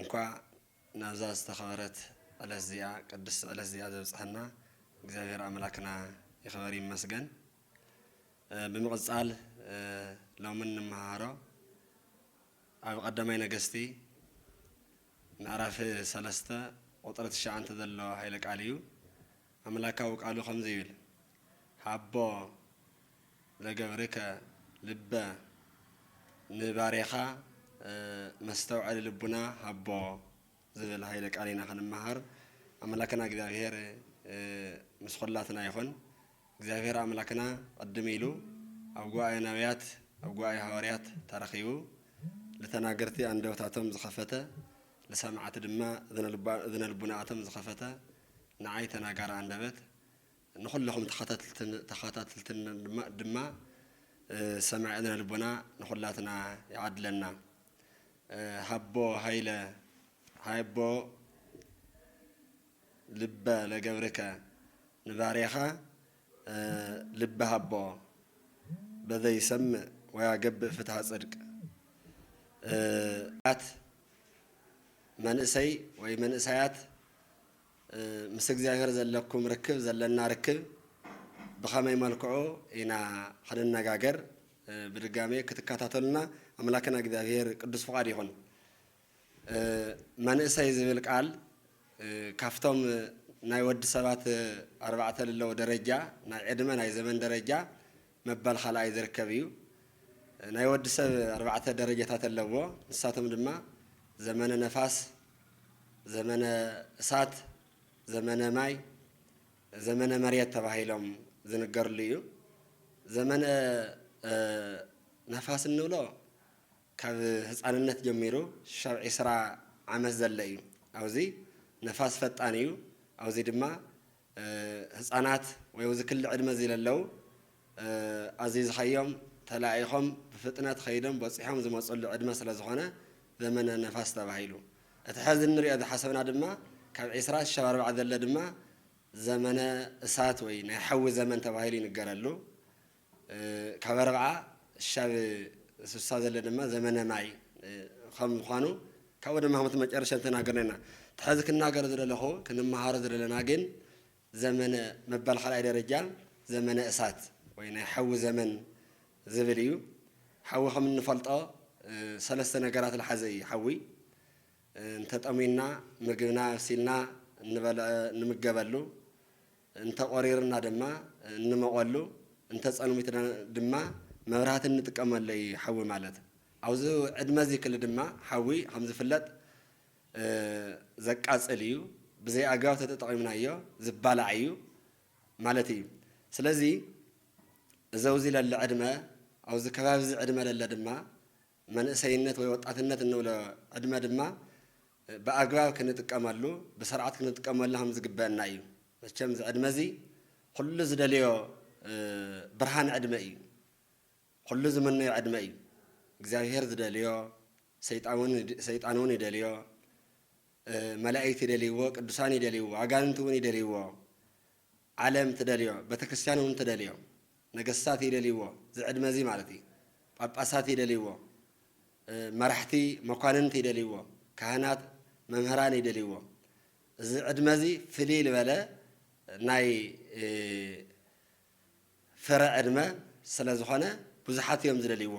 እንኳዕ ናብዛ ዝተኸበረት ዕለት እዚኣ ቅድስቲ ዕለት እዚኣ ዘብጽሐና እግዚኣብሔር ኣምላክና ይኽበር ይመስገን። ብምቕጻል ሎሚ እንመሃሮ ኣብ ቀዳማይ ነገስቲ ምዕራፍ ሰለስተ ቁጥሪ ትሽዓንተ ዘሎ ኃይለ ቃል እዩ። ኣምላካዊ ቃሉ ከምዚ ይብል ሃቦ ዘገብርከ ልበ ንባሬኻ መስተውዐሊ ልቡና ሃቦ ዝብል ሃይለ ቃል ኢና ክንመሃር ኣምላክና እግዚኣብሔር ምስ ኹላትና ይኹን እግዚኣብሔር ኣምላክና ቅድም ኢሉ ኣብ ጉባኤ ነቢያት ኣብ ጉባኤ ሃዋርያት ተረኺቡ ልተናገርቲ ኣንደበታቶም ዝኸፈተ ልሰማዕቲ ድማ እዝነ ልቡናኣቶም ዝኸፈተ ንዓይ ተናጋሪ ኣንደበት ንኹልኹም ተኸታትልትን ተኸታትልትን ድማ ሰማዒ እዝነ ልቦና ንኹላትና ይዓድለና። ሃቦ ሃይለ ሃይቦ ልበ ለገብርከ ንባርያኻ ልቢ ሃቦ በዘ ይሰምእ ወያገብእ ፍትሃ ጽድቅ ኣት መንእሰይ ወይ መንእሰያት ምስ እግዚኣብሔር ዘለኩም ርክብ ዘለና ርክብ ብከመይ መልክዑ ኢና ክንነጋገር ብድጋሜ ክትከታተሉና ኣምላክና እግዚኣብሔር ቅዱስ ፍቃድ ይኩን። መንእሰይ ዝብል ቃል ካብቶም ናይ ወዲ ሰባት ኣርባዕተ ልለው ደረጃ ናይ ዕድመ ናይ ዘመን ደረጃ መበል ኻልኣይ ዝርከብ እዩ። ናይ ወዲ ሰብ ኣርባዕተ ደረጃታት ኣለዎ። ንሳቶም ድማ፣ ዘመነ ነፋስ፣ ዘመነ እሳት፣ ዘመነ ማይ፣ ዘመነ መሬት ተባሂሎም ዝንገርሉ እዩ። ዘመነ ነፋስ እንብሎ ካብ ህጻንነት ጀሚሩ ሽሻብ ዕስራ ዓመት ዘለ እዩ። ኣብዚ ነፋስ ፈጣን እዩ። ኣብዚ ድማ ህጻናት ወይ እዚ ክሊ ዕድመ እዚ ለለው ኣዚዝኻዮም ተላኢኾም ብፍጥነት ኸይዶም በጺሖም ዝመጽሉ ዕድመ ስለ ዝኾነ ዘመነ ነፋስ ተባሂሉ። እቲ ሐዚ እንሪኦ ዝሓሰብና ድማ ካብ ዕስራ ክሻብ ኣርብዓ ዘለ ድማ ዘመነ እሳት ወይ ናይ ሓዊ ዘመን ተባሂሉ ይንገረሉ። ካበረ ከኣ ሻብ ስሳ ዘለ ድማ ዘመነ ማይ ከም ምዃኑ ካብኡ ድማ ከምቲ መጨረሻ ዝተናገርና ኢና። እቲ ሐዚ ክናገሮ ዝደለኹ ክንመሃሮ ዝደለና ግን ዘመነ መባል ካልኣይ ደረጃ ዘመነ እሳት ወይ ናይ ሓዊ ዘመን ዝብል እዩ። ሓዊ ከም እንፈልጦ ሰለስተ ነገራት ልሓዘ እዩ ሓዊ እንተጠምዩና ምግብና ኣብሲልና እንበልዕ ንምገበሉ፣ እንተ ቆሪርና ድማ እንሞቐሉ እንተ ጸልሚትና ድማ መብራህቲ እንጥቀመሉ እዩ ሓዊ ማለት። ኣብዚ ዕድመ እዚ ክሊ ድማ ሓዊ ከም ዝፍለጥ ዘቃጽል እዩ ብዘይ ኣግባብ ተተጠቒምናዮ ዝባላዕ እዩ ማለት እዩ። ስለዚ እዚ ኣብዚ ለሎ ዕድመ ኣብዚ ከባቢ እዚ ዕድመ ለሎ ድማ መንእሰይነት ወይ ወጣትነት እንብሎ ዕድመ ድማ ብኣግባብ ክንጥቀመሉ ብስርዓት ክንጥቀመሉ ከም ዝግበአና እዩ። መቸም እዚ ዕድመ እዚ ኩሉ ዝደልዮ ብርሃን ዕድመ እዩ። ኩሉ ዝምነዮ ዕድመ እዩ። እግዚኣብሄር ዝደልዮ ሰይጣን እውን ይደልዮ፣ መላእክት ይደልይዎ፣ ቅዱሳን ይደልይዎ፣ ኣጋንንቲ እውን ይደልይዎ። ዓለም ትደልዮ በተክርስቲያን እውን ትደልዮ ነገስታት ይደልይዎ ዝዕድመ እዚ ማለት እዩ ጳጳሳት ይደልይዎ መራሕቲ መኳንንት ይደልይዎ ካህናት መምህራን ይደልይዎ እዚ ዕድመ እዚ ፍልይ ልበለ ናይ ፍረ ዕድመ ስለዝኾነ ብዙሓት እዮም ዝደልይዎ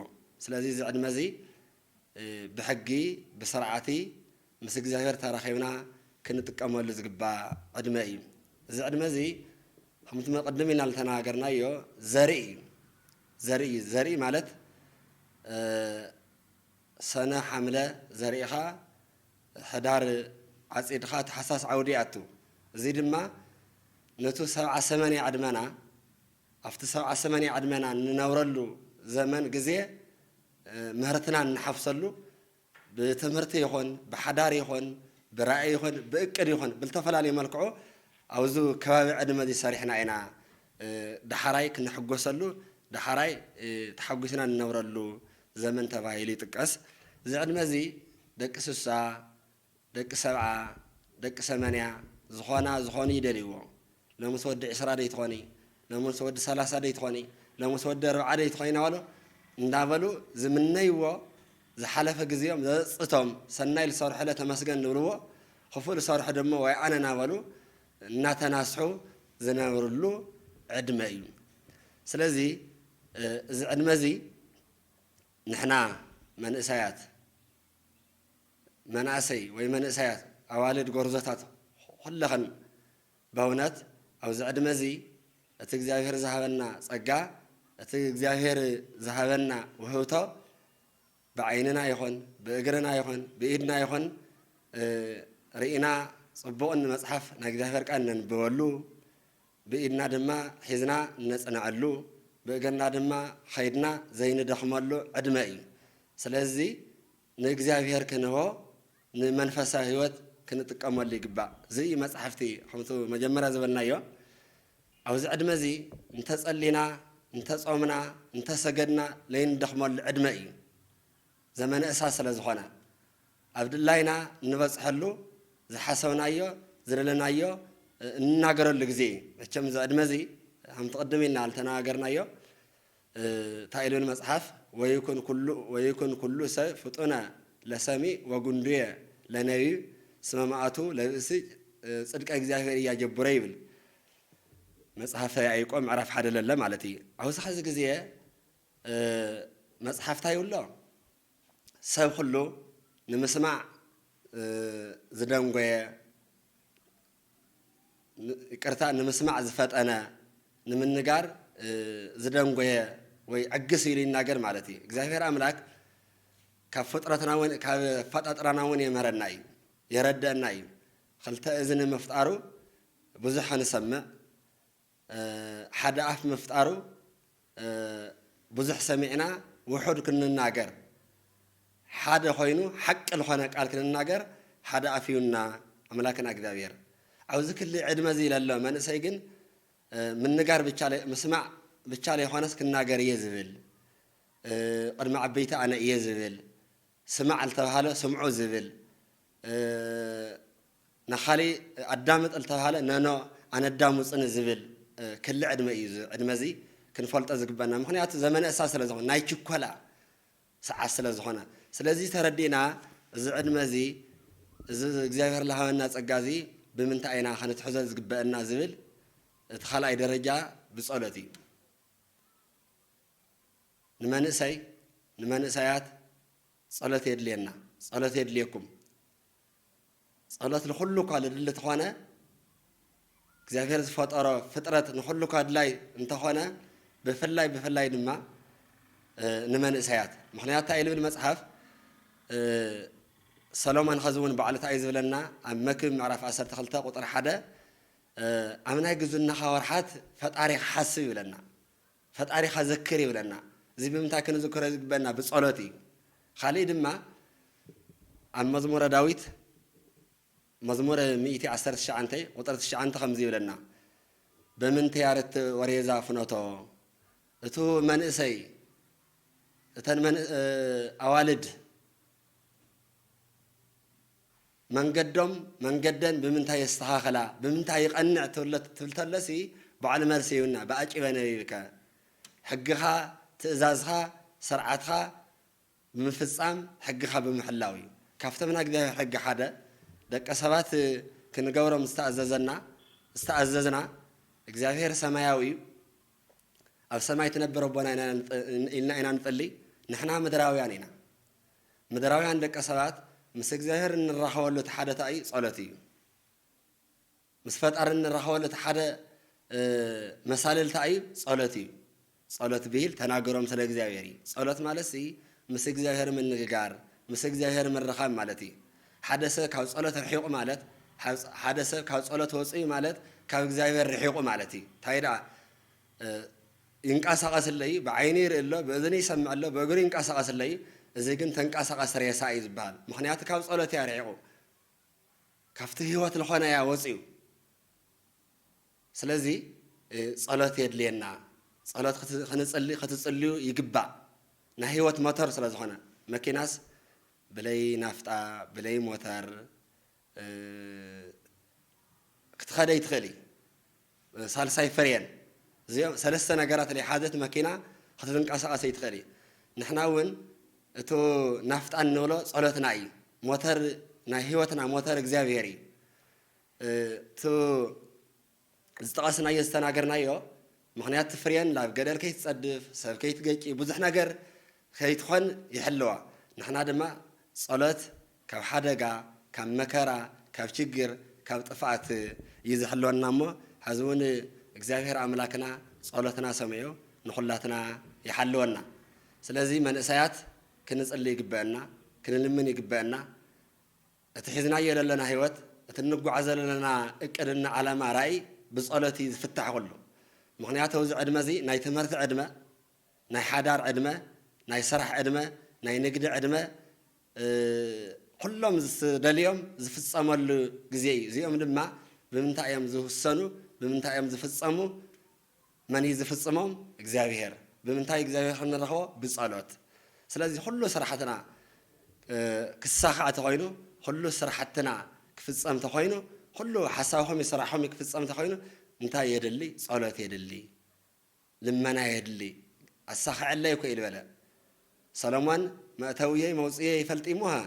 ስለዚ እዚ ዕድመ እዚ ብሕጊ ብስርዓቲ ምስ እግዚኣብሔር ተራኺብና ክንጥቀመሉ ዝግባእ ዕድመ እዩ። እዚ ዕድመ እዚ ከምቲ ቅድም ኢልና ዝተነጋገርናዮ ዘርኢ እዩ። ዘርኢ እዩ። ዘርኢ ማለት ሰነ ሓምለ ዘሪእኻ ሕዳር ዓፂድኻ ተሓሳስ ዓውዲ ይኣቱ። እዚ ድማ ነቱ ሰብዓ ሰመንያ ዕድመና ኣብቲ ሰብዓ ሰመንያ ዕድመና እንነብረሉ ዘመን ግዜ ምህርትና እንሓፍሰሉ ብትምህርቲ ይኹን ብሓዳር ይኹን ብራኢ ይኹን ብእቅድ ይኹን ብልተፈላለዩ መልክዑ ኣብዚ ከባቢ ዕድመ እዚ ሰሪሕና ኢና ዳሓራይ ክንሕጎሰሉ ዳሓራይ ተሓጒስና እንነብረሉ ዘመን ተባሂሉ ይጥቀስ። እዚ ዕድመ እዚ ደቂ ስሳ፣ ደቂ ሰብዓ ደቂ ሰመንያ ዝኾና ዝኾኑ ይደልይዎ ሎምስ ወዲ ዕስራ ደይትኾኒ ሎምስ ወዲ ሰላሳ ደይትኾኒ ሎምስ ወዲ ኣርብዓ ደይትኾኒ ናበሉ እንዳበሉ ዝምነይዎ ዝሓለፈ ግዜኦም ዘጸጽቶም ሰናይ ልሰርሑለ ተመስገን ልብልዎ ኽፉእ ልሰርሑ ድሞ ዋይ ኣነ ናበሉ እናተናስሑ ዝነብርሉ ዕድመ እዩ ስለዚ እዚ ዕድመ እዚ ንሕና መንእሰያት መናእሰይ ወይ መንእሰያት ኣዋልድ ጎርዞታት ኹልኽን በውነት ኣብዚ ዕድመ እዚ እቲ እግዚኣብሔር ዝሃበና ጸጋ እቲ እግዚኣብሔር ዝሃበና ውህብቶ ብዓይንና ይኹን ብእግርና ይኹን ብኢድና ይኹን ርኢና ጽቡቕ ንመጽሓፍ ናይ እግዚኣብሔር ቃል ነንብበሉ ብኢድና ድማ ሒዝና ነጽንዐሉ ብእግርና ድማ ኸይድና ዘይንደኽመሉ ዕድመ እዩ ስለዚ ንእግዚኣብሔር ክንህቦ ንመንፈሳዊ ሕይወት ክንጥቀመሉ ይግባእ። ዝይ መጽሕፍቲ ከምቱ መጀመርያ ዝበልናዮ ኣብዚ ዕድመ እዚ እንተጸሊና እንተጾምና እንተሰገድና ለይንደኽመሉ ዕድመ እዩ። ዘመነ እሳት ስለ ዝኾነ ኣብ ድላይና እንበጽሐሉ ዝሓሰብናዮ ዝደለናዮ እንናገረሉ ግዜ እዩ። መቸም እዚ ዕድመ እዚ ከምቲ ቅድም ኢልና ልተነጋገርናዮ እታ ኢሉኒ መጽሓፍ ወይኩን ኩሉ ሰ ፍጡነ ለሰሚ ወጉንዱየ ለነቢብ ስመ መኣቱ ለብእሲ ጽድቀ እግዚኣብሔር ኢያጀቡረ ይብል መጽሐፈ ያኢቆ ምዕራፍ ሓደ ለለ ማለት እዩ ኣውዚ ሐዚ ግዜ መጽሓፍ ታይ ይብሎ ሰብ ኩሉ ንምስማዕ ዝደንጎየ ይቅርታ ንምስማዕ ዝፈጠነ ንምንጋር ዝደንጎየ ወይ ዕግስ ኢሉ ይናገር ማለት እዩ። እግዚኣብሔር ኣምላክ ካብ ፍጥረትና እውን ካብ ኣፈጣጥራና እውን የምህረና እዩ የረደአና እዩ። ክልተ እዝኒ ምፍጣሩ ብዙሕ ንሰምዕ ሓደ ኣፍ ምፍጣሩ ብዙሕ ሰሚዕና ውሑድ ክንናገር ሓደ ኮይኑ ሓቂ ልኾነ ቃል ክንናገር ሓደ ኣፍ ሂቡና ኣምላክና እግዚኣብሔር ኣብዚ ክሊ ዕድመ እዚ ለሎ መንእሰይ ግን ምንጋር ብቻ ምስማዕ ብቻ ለይኾነስ ክናገር እየ ዝብል ቅድሚ ዓበይቲ ኣነ እየ ዝብል ስማዕ ልተብሃለ ስምዑ ዝብል፣ ንኻሊእ ኣዳምጥ ልተብሃለ ነኖ ኣነዳሙጽኒ ዝብል ክሊ ዕድመ እዩ። እዚ ዕድመ እዚ ክንፈልጦ ዝግበና ምኽንያቱ ዘመነ እሳ ስለ ዝኾነ ናይ ችኮላ ሰዓት ስለ ዝኾነ ስለዚ ተረዲእና እዚ ዕድመ እዚ እዚ እግዚኣብሔር ልሃበና ጸጋ እዚ ብምንታይ ኢና ከንትሕዞ ዝግበእና ዝብል እቲ ካልኣይ ደረጃ ብጸሎት እዩ። ንመንእሰይ ንመንእሰያት ጸሎት የድልየና ጸሎት የድልየኩም ጸሎት ንኹሉ እኳ ልድሊ ተኾነ እግዚኣብሔር ዝፈጠሮ ፍጥረት ንኹሉ እኳ ድላይ እንተኾነ ብፍላይ ብፍላይ ድማ ንመንእሰያት ምክንያቱ እንታይ ልብል መጽሓፍ ሰሎሞን ኸዚ እውን ባዕሉ እንታይ ዝብለና ኣብ መክብ ምዕራፍ 12 ቁጥሪ ሓደ ኣብ ናይ ግዝናኻ ወርሓት ፈጣሪ ክሓስብ ይብለና ፈጣሪኻ ዘክር ይብለና። እዚ ብምንታይ ክንዝክሮ ዝግበእና? ብጸሎት እዩ። ኻልእይ ድማ ኣብ መዝሙረ ዳዊት መዝሙር ሚእቲ ዓሰርተ ትሽዓንተ ቁጽሪ ትሽዓንተ ከምዚ ይብለና በምንተ ያረትእ ወሬዛ ፍኖቶ እቱ መንእሰይ እተን ኣዋልድ መንገዶም መንገደን ብምንታይ የስተኻኽላ ብምንታይ ይቐንዕ ትብሎ ትብል ተሎሲ ባዕሉ መልሲ ይህቡና ብኣጭበ ነቢብከ ሕግኻ ትእዛዝኻ ሰርዓትኻ ብምፍጻም ሕግኻ ብምሕላው እዩ ካብቶም ናይ እግዚኣብሔር ሕጊ ሓደ ደቂ ሰባት ክንገብሮም ዝተኣዘዘና ዝተኣዘዝና እግዚኣብሔር ሰማያዊ እዩ ኣብ ሰማይ ትነብር ኣቦና ኢና ኢልና ኢና ንጽሊ ንሕና ምድራውያን ኢና ምድራውያን ደቂ ሰባት ምስ እግዚኣብሔር እንራኸበሉ እቲ ሓደ ታእዩ ጸሎት እዩ። ምስ ፈጣሪ እንራኸበሉ እቲ ሓደ መሳልል ታእዩ ጸሎት እዩ። ጸሎት ብሂል ተናገሮም ስለ እግዚኣብሔር እዩ። ጸሎት ማለት ሲ ምስ እግዚኣብሔር ምንግጋር ምስ እግዚኣብሔር ምርኻብ ማለት እዩ። ሓደ ሰብ ካብ ጸሎት ርሒቑ ማለት ሓደ ሰብ ካብ ጸሎት ወጽዩ ማለት ካብ እግዚኣብሔር ርሒቑ ማለት እዩ። ታይ ደኣ ይንቃሳቀስለይ ብዓይነይ ይርኢ ኣሎ ብእዝነይ ይሰምዕ ኣሎ ብእግሩ ይንቃሳቀስለይ እዚ ግን ተንቃሳቀሲ ሬሳ እዩ ዝበሃል ምክንያቱ ካብ ጸሎት እያ ርሒቁ ካብቲ ህይወት ልኾነ እያ ወጽዩ ስለዚ ጸሎት የድልየና ጸሎት ክንጽሊ ክትጽልዩ ይግባእ ናይ ህይወት ሞተር ስለ ዝኾነ መኪናስ ብለይ ናፍጣ ብለይ ሞተር ክትኸደይ ትኽእሊ ሳልሳይ ፍሬን እዚኦም ሰለስተ ነገራት ለይሓዘት መኪና ክትንቀሳቀስ ኣይትኽእል እዩ ንሕና እውን እቱ ናፍጣ እንብሎ ፀሎትና እዩ ሞተር ናይ ህይወትና ሞተር እግዚኣብሔር እዩ እቱ ዝጠቐስናዮ ዝተናገርናዮ ምክንያት ፍሬን ናብ ገደል ከይትፀድፍ ሰብ ከይትገጪ ብዙሕ ነገር ከይትኾን ይሕልዋ ንሕና ድማ ፀሎት ካብ ሓደጋ ካብ መከራ ካብ ችግር ካብ ጥፍኣት እዩ ዝሕልወና እሞ ሐዚ እውን እግዚኣብሔር ኣምላክና ፀሎትና ሰሚዑ ንኹላትና ይሓልወና ስለዚ መንእሰያት ክንፅሊ ይግበእና ክንልምን ይግበእና እቲ ሒዝናዮ ለለና ህይወት እቲ እንጓዓዞ ለለና እቅድ እና ዓላማ ራኢ ብፀሎት እዩ ዝፍታሕ ኹሉ ምኽንያቱ እዚ ዕድመ እዚ ናይ ትምህርቲ ዕድመ ናይ ሓዳር ዕድመ፣ ናይ ስራሕ ዕድመ፣ ናይ ንግዲ ዕድመ ኩሎም ዝደልዮም ዝፍፀመሉ ግዜ እዩ። እዚኦም ድማ ብምንታይ እዮም ዝውሰኑ? ብምንታይ እዮም ዝፍፀሙ? መን እዩ ዝፍፅሞም? እግዚኣብሄር። ብምንታይ እግዚኣብሄር ክንረኽቦ? ብፀሎት። ስለዚ ኩሉ ስራሕትና ክሳኻዕ ተኾይኑ፣ ኩሉ ስራሕትና ክፍፀም ተኾይኑ፣ ኩሉ ሓሳብኹም እዩ ስራሕኹም እዩ ክፍፀም ተኾይኑ እንታይ የድሊ? ፀሎት የድሊ። ልመና የድሊ ኣሳኽዐለይ እኮ ኢዩ በለ ሰሎሞን መእተውየይ መውጽኢየይ ይፈልጥ እዩ'ሞ ሃ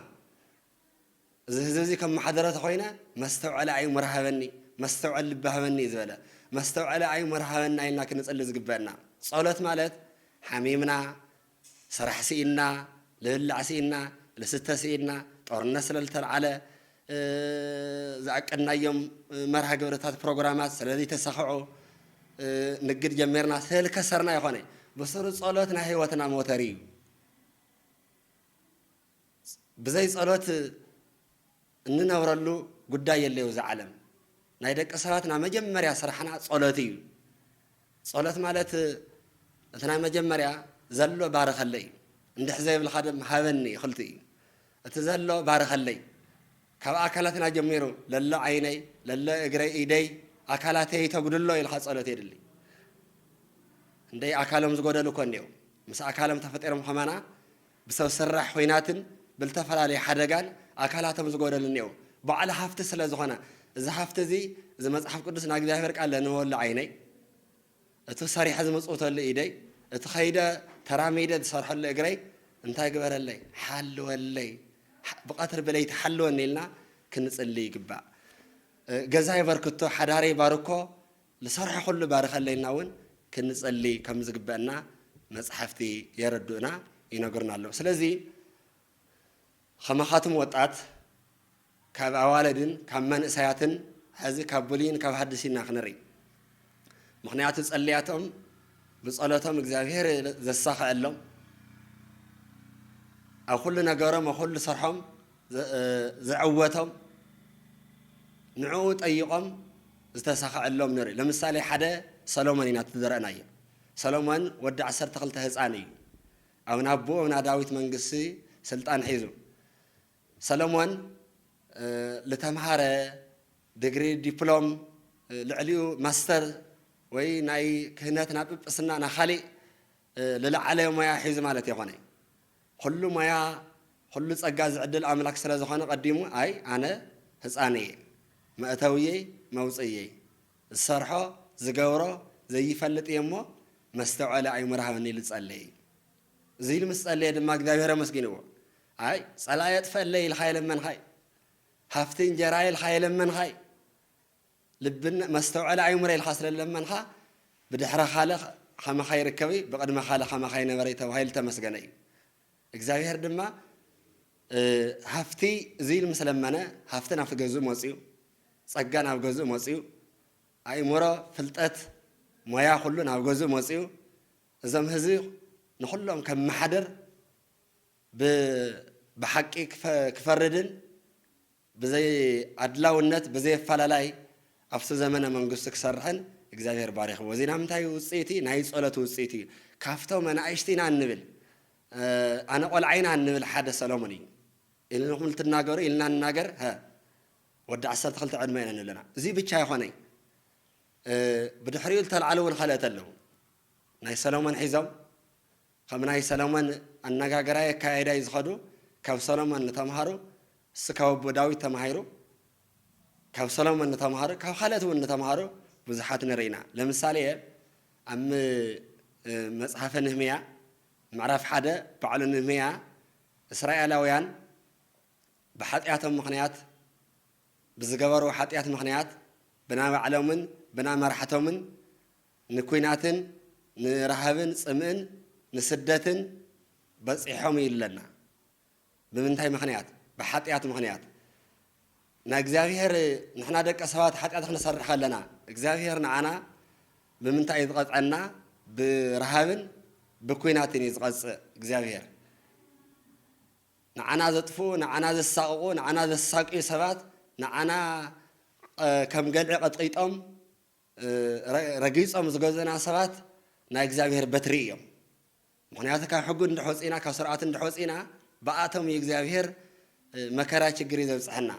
እዚ ህዝቢ እዚ ከመሓድሮ ተኾይነ መስተውዐሊ ኣዩ ምር ሃበኒ መስተውዐሊ ልቢ ሃበኒ እዩ ዝበለ መስተውዐሊ ኣዩ ምር ሃበና ኢልና ክንጽሊ ዝግበእና ጸሎት ማለት ሓሚምና ስራሕ ስኢንና፣ ንብላዕ ስኢንና፣ ንስተ ስኢንና፣ ጦርነት ስለልተልዓለ፣ ዝኣቀድናዮም መርሃ ግብርታት ፕሮግራማት ስለልይተሳኸዑ፣ ንግድ ጀሚርና ስለልከሰርና ኣይኾነይ። ብሱሩ ጸሎት ናይ ህይወትና ሞተር እዩ። ብዘይ ጸሎት እንነብረሉ ጉዳይ የለይ ኣብዚ ዓለም ናይ ደቂ ሰባት ናይ መጀመርያ ስራሕና ጸሎት እዩ ጸሎት ማለት እቲ ናይ መጀመርያ ዘሎ ባርኸለይ እዩ እንድሕ ዘይብልካ ድማ ሃበኒ ይኽልቲ እዩ እቲ ዘሎ ባርኸለይ ካብ ኣካላትና ጀሚሩ ለሎ ዓይነይ ለሎ እግረይ ኢደይ ኣካላተይ ተጉድሎ ኢልካ ጸሎት የድሊ እንደይ ኣካሎም ዝጎደሉ እኮ እንዲኦም ምስ ኣካሎም ተፈጢሮም ከማና ብሰብ ሰራሕ ኹናትን ብልተፈላለየ ሓደጋን ኣካላቶም ዝጎደሉ እኔዉ ባዕሉ ሃፍቲ ስለ ዝኾነ እዚ ሃፍቲ እዚ እዚ መጽሓፍ ቅዱስ ናይ እግዚኣብሔር ቃል ለንበበሉ ዓይነይ እቲ ሰሪሐ ዝምጽውተሉ ኢደይ እቲ ኸይደ ተራሚደ ዝሰርሐሉ እግረይ እንታይ ግበረለይ ሓልወለይ ብቐትሪ ብለይቲ ሓልወኒ ኢልና ክንጽሊ ይግባእ ገዛይ በርክቶ ሓዳረይ ባርኮ ንሰርሖ ኩሉ ባርኸለይና እውን ክንጸሊ ከም ዝግበእና መጻሕፍቲ የረዱእና ይነግሩና ኣለዉ ስለዚ ከማኻትም ወጣት ካብ ኣዋለድን ካብ መንእሰያትን ሐዚ ካብ ብሉይን ካብ ሐድሽ ኢና ክንርኢ ምኽንያቱ ጸልያቶም ብጸሎቶም እግዚኣብሔር ዘሳኸዐሎም ኣብ ኩሉ ነገሮም ኣብ ኩሉ ስርሖም ዝዕወቶም ንዕኡ ጠይቆም ዝተሳኸዐሎም ንርኢ ለምሳሌ ሓደ ሰሎሞን ኢና እቲ ዝረእናዮ ሰሎሞን ወዲ ዓሰርተ ክልተ ህፃን እዩ ኣብ ናቦኡ ኣብ ናዳዊት መንግስቲ ስልጣን ሒዙ ሰሎሞን ልተምሃረ ድግሪ ዲፕሎም ልዕሊኡ ማስተር ወይ ናይ ክህነት ናብ ጵጵስና ናካሊእ ልለዓለ ሞያ ሒዙ ማለት የኮነይ ኹሉ ሞያ ኹሉ ጸጋ ዝዕድል ኣምላክ ስለ ዝኾነ ቀዲሙ ኣይ ኣነ ህጻን እየ መእተውየይ መውጽእየይ ዝሰርሖ ዝገብሮ ዘይፈልጥ እየ እሞ መስተውዐሊ ኣይሙር ሃበኒ ኢሉ ጸለይ እዙይ ኢሉ ምስ ጸለየ ድማ እግዚኣብሔር ኣመስጊንዎ ኣይ ጸላኢ የጥፈለይ ኢልካ የለመንካይ ሃፍቲ እንጀራ ኢልካ የለመንካይ ልብን መስተውዐሊ ኣይምሮ ኢልካ ስለ ዝለመንካ ብድሕረ ካል ከማካ ይርከብ እዩ ብቅድመ ካል ከማካ ይነበረ እዩ ተባሂሉ ዝተመስገነ እዩ እግዚኣብሔር ድማ ሃፍቲ እዚ ኢሉ ምስ ለመነ ሃፍቲ ናብቲ ገዝኡ መፅኡ ፀጋ ናብ ገዝኡ መፅኡ ኣይምሮ ፍልጠት ሞያ ኩሉ ናብ ገዝኡ መፅኡ እዞም ህዝቢ ንኩሎም ከመሓድር ብሓቂ ክፈርድን ብዘይ ኣድላውነት ብዘይ ኣፋላላይ ኣብቲ ዘመነ መንግስቱ ክሰርሕን እግዚኣብሔር ባሪኽዎ እዚና ምንታይ እዩ ውፅኢቲ ናይ ፀሎት ውፅኢት እዩ ካፍቶም ኣናእሽቲ ኢና እንብል ኣነ ቆልዓ ኢና እንብል ሓደ ሰሎሞን እዩ ኢልንኹም ልትናገሩ ኢልና ንናገር ሀ ወዲ ዓሰርተ ክልተ ዕድመ ኢና ንብለና እዚ ብቻ ይኾነይ ብድሕሪኡ ዝተልዓሉ እውን ካልኦት ኣለዉ ናይ ሰሎሞን ሒዞም ከም ናይ ሰሎሞን ኣነጋገራይ ኣካያይዳይ ዝኸዱ ካብ ሰሎሞን ንተምሃሩ እሱ ካብ ኣቦ ዳዊት ተማሂሩ ካብ ሰሎሞን ንተምሃሩ ካብ ካልኦት ውን ንተምሃሩ ብዙሓት ንርኢ ኢና ለምሳሌ ኣብ መጽሓፈ ንህምያ ምዕራፍ ሓደ ባዕሉ ንህምያ እስራኤላውያን ብሓጢኣቶም ምኽንያት ብዝገበርዎ ሓጢኣት ምኽንያት ብናባዕሎምን ብናመራሕቶምን ንኩናትን ንረሃብን ጽምእን ንስደትን በጺሖም እዩ ለና ብምንታይ ምክንያት ብሓጥያት ምክንያት ናይ እግዚኣብሄር ንሕና ደቂ ሰባት ሓጢኣት ክንሰርሕ ከለና እግዚኣብሄር ንዓና ብምንታይ እዩ ዝቐጽዐና ብረሃብን ብኩናትን እዩ ዝቐጽእ እግዚኣብሄር ንዓና ዘጥፍኡ ንዓና ዘሳቕቑ ንዓና ዘሳቅዩ ሰባት ንዓና ከም ገልዒ ቐጥቂጦም ረጊጾም ዝገዝኡና ሰባት ናይ እግዚኣብሄር በትሪ እዮም። ምኽንያቱ ካብ ሕጉ እንድሕ ወጺእና ካብ ስርዓቱ እንድሕ ወጺእና ብኣቶም እዩ እግዚኣብሄር መከራ ችግር እዩ ዘብጽሐና።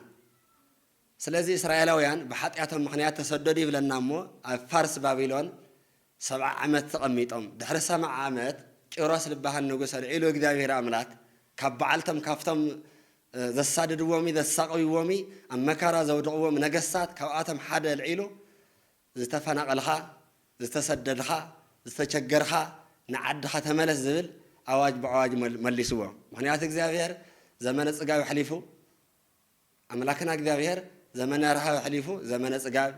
ስለዚ እስራኤላውያን ብሓጢኣቶም ምኽንያት ተሰደዱ ይብለና እሞ ኣብ ፋርስ ባቢሎን ሰብዓ ዓመት ተቐሚጦም ድሕሪ ሰብዓ ዓመት ቂሮስ ዝበሃል ንጉስ ኣልዒሉ እግዚኣብሄር ኣምላክ ካብ በዓልቶም ካብቶም ዘሳድድዎሚ ዘሳቕይዎሚ ኣብ መከራ ዘውድቕዎም ነገስታት ካብኣቶም ሓደ ኣልዒሉ ዝተፈናቐልኻ ዝተሰደድኻ ዝተቸገርኻ ንዓድኻ ተመለስ ዝብል ኣዋጅ ብኣዋጅ መሊስዎ ምኽንያቱ እግዚኣብሄር ዘመነ ጽጋብ ኣሕሊፉ ኣምላክና እግዚኣብሄር ዘመነ ረሃብ ኣሕሊፉ ዘመነ ጽጋብ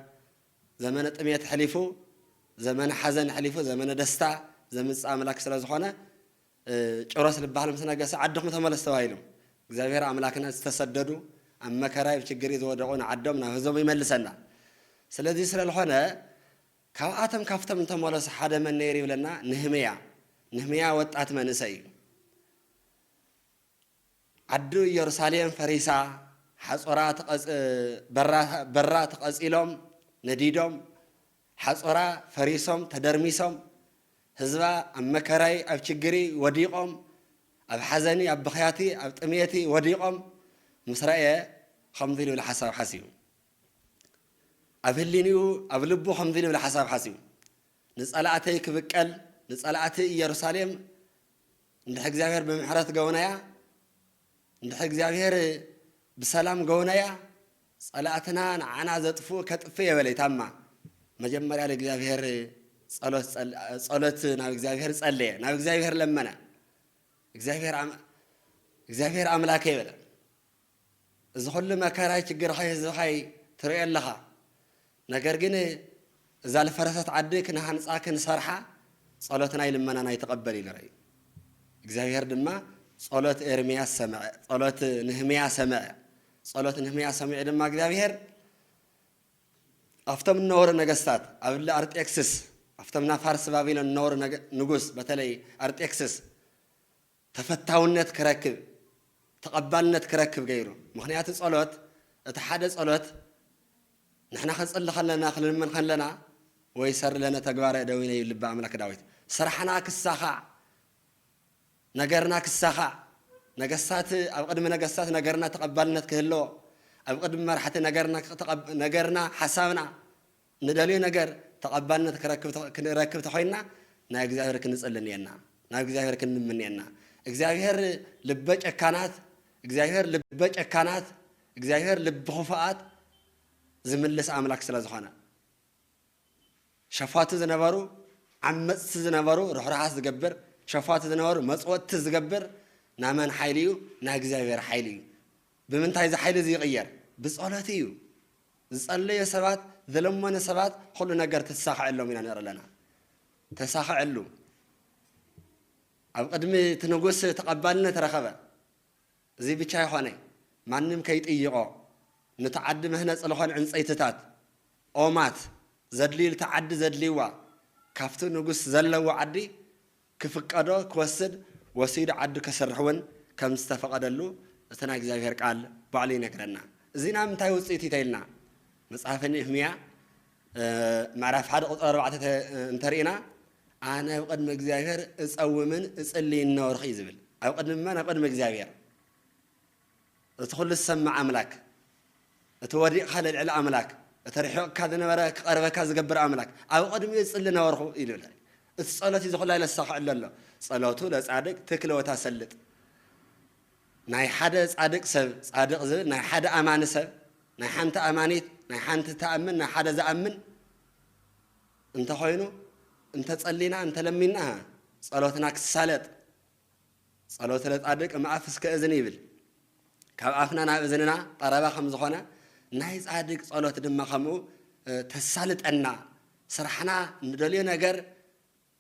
ዘመነ ጥሜት ኣሕሊፉ ዘመነ ሓዘን ኣሕሊፉ ዘመነ ደስታ ዘምጽእ ኣምላክ ስለ ዝኾነ ጭሮስ ልባሃል ምስ ነገሰ ዓድኹም ተመለሱ ተባሂሎም እግዚኣብሔር ኣምላክና ዝተሰደዱ ኣብ መከራይ ኣብ ችግርይ ዝወደቁ ንዓዶም ናብ ህዝቦም ይመልሰና ስለዚ ስለልኾነ ካብኣቶም ካብቶም እንተመለሱ ሓደ መን ነይሩ ይብለና ንህምያ ንህምያ ወጣት መንእሰይ እዩ ዓዱ እዮርሳሌም ፈሪሳ ሓጾራ ተቐጽ በራ በራ ተቐጺሎም ነዲዶም ሓጾራ ፈሪሶም ተደርሚሶም ህዝባ ኣብ መከራይ ኣብ ችግሪ ወዲቖም ኣብ ሓዘኒ ኣብ ብኽያቲ ኣብ ጥምየቲ ወዲቖም ምስ ረእየ ኸምዚ ልብል ሓሳብ ሓሲቡ ኣብ ህሊንኡ ኣብ ልቡ ኸምዚ ልብል ሓሳብ ሓሲቡ ንጸላእተይ ክብቀል ንጸላእቲ እዮርሳሌም እንድሕር እግዚኣብሔር ብምሕረት ገውናያ እንድሕር እግዚኣብሔር ብሰላም ገውናያ ጸላእትና ንዓና ዘጥፍኡ ከጥፍ የበለይ ታማ መጀመርያ ንእግዚኣብሔር ጸሎት ናብ እግዚኣብሔር ጸለየ ናብ እግዚኣብሔር ለመነ እግዚኣብሔር ኣምላከ ይበለ እዚ ኩሉ መከራይ ችግርኸይ ህዝብኸይ ትሪኦ ኣለኻ ነገር ግን እዛ ልፈረሰት ዓዲ ክንሃንጻ ክንሰርሓ ጸሎትናይ ልመናናይ ተቀበል ኢሉ ረእዩ እግዚኣብሔር ድማ ጸሎት ኤርምያስ ሰምዐ ጸሎት ንህምያ ሰምዐ ጸሎት ንህምያ ሰሚዑ ድማ እግዚኣብሔር ኣብቶም እነበሩ ነገስታት ኣብ እሊ ኣርጤክስስ ኣብቶም ናፋርስ ባቢሎን እነበሩ ንጉስ በተለይ ኣርጤክስስ ተፈታውነት ክረክብ ተቐባልነት ክረክብ ገይሩ ምኽንያቱ ጸሎት እቲ ሓደ ጸሎት ንሕና ክንጽሊ ከለና ክንልምን ከለና ወይሰር ለነ ተግባረ እደዊነ እዩ ልበ ኣምላክ ዳዊት ስራሕና ክሳኻዕ ነገርና ክሳኻዕ ነገስታት ኣብ ቅድሚ ነገስታት ነገርና ተቐባልነት ክህለዎ ኣብ ቅድሚ መራሕቲ ነገርና ነገርና ሓሳብና ንደልዮ ነገር ተቐባልነት ክረክብ ክንረክብ ተኾይንና ናብ እግዚኣብሔር ክንጽሊ እኔና ናብ እግዚኣብሔር ክንልምን እኔና እግዚኣብሔር ልበ ጨካናት እግዚኣብሔር ልበ ጨካናት እግዚኣብሔር ልቢ ኹፉኣት ዝምልስ ኣምላክ ስለ ዝኾነ ሸፋቱ ዝነበሩ ዓመጽቲ ዝነበሩ ርሕራሓት ዝገብር ሸፋቱ ዝነበሩ መጽወጥቲ ዝገብር ናመን ሓይሊ እዩ ናይ እግዚኣብሔር ሓይሊ እዩ ብምንታይ እዚ ሓይሊ እዚ ይቕየር ብጸሎት እዩ ዝጸለዮ ሰባት ዝለመኑ ሰባት ኹሉ ነገር ክትሳኸዐሎም ኢና ንርኢ ኣለና ተሳኸዐሉ ኣብ ቅድሚ እቲ ንጉስ ተቐባልነት ረኸበ እዚ ብቻ ይኾነ ማንም ከይጥይቖ ንቲ ዓዲ መህነፂ ዝኾን ዕንፀይትታት ኦማት ዘድልዩ ንቲ ዓዲ ዘድልይዋ ካፍቲ ንጉስ ዘለዎ ዓዲ ክፍቀዶ ክወስድ ወሲዱ ዓዱ ከስርሕ እውን ከም ዝተፈቐደሉ እቲ ናይ እግዚኣብሄር ቃል ባዕሉ ይነግረና። እዚ ናይ ምንታይ ውፅኢት እዩ ተይልና መፅሓፈ ንህምያ ምዕራፍ ሓደ ቁፅሪ ኣርባዕተ እንተሪእና ኣነ ኣብ ቅድሚ እግዚኣብሄር እፀውምን እፅልይን ነበርኹ እዩ ዝብል። ኣብ ቅድሚ መን? ኣብ ቅድሚ እግዚኣብሄር። እቲ ኹሉ ዝሰምዕ ኣምላክ እቲ ወዲቅካ ዘልዕል ኣምላክ እቲ ርሒቅካ ዝነበረ ክቀርበካ ዝገብር ኣምላክ ኣብ ቅድሚኡ ዝጽሊ ነበርኩ ኢሉ ኢላ እቲ ጸሎት እዩ እዚ ኹሉ ለሳክዕ ለሎ ጸሎቱ ለጻድቅ ትክል ወታሰልጥ ናይ ሓደ ጻድቅ ሰብ ጻድቅ ዝብል ናይ ሓደ ኣማኒ ሰብ ናይ ሓንቲ ኣማኒት ናይ ሓንቲ ተኣምን ናይ ሓደ ዝኣምን እንተኾይኑ እንተጸሊና እንተለሚና ጸሎትና ክሳለጥ ጸሎተ ጻድቅ እምኣፍ እስከ እዝን ይብል። ካብ ኣፍና ናብ እዝንና ቀረባ ከም ዝኾነ ናይ ጻድቅ ጸሎት ድማ ከምኡ ተሳልጠና፣ ስራሕና ንደልዮ ነገር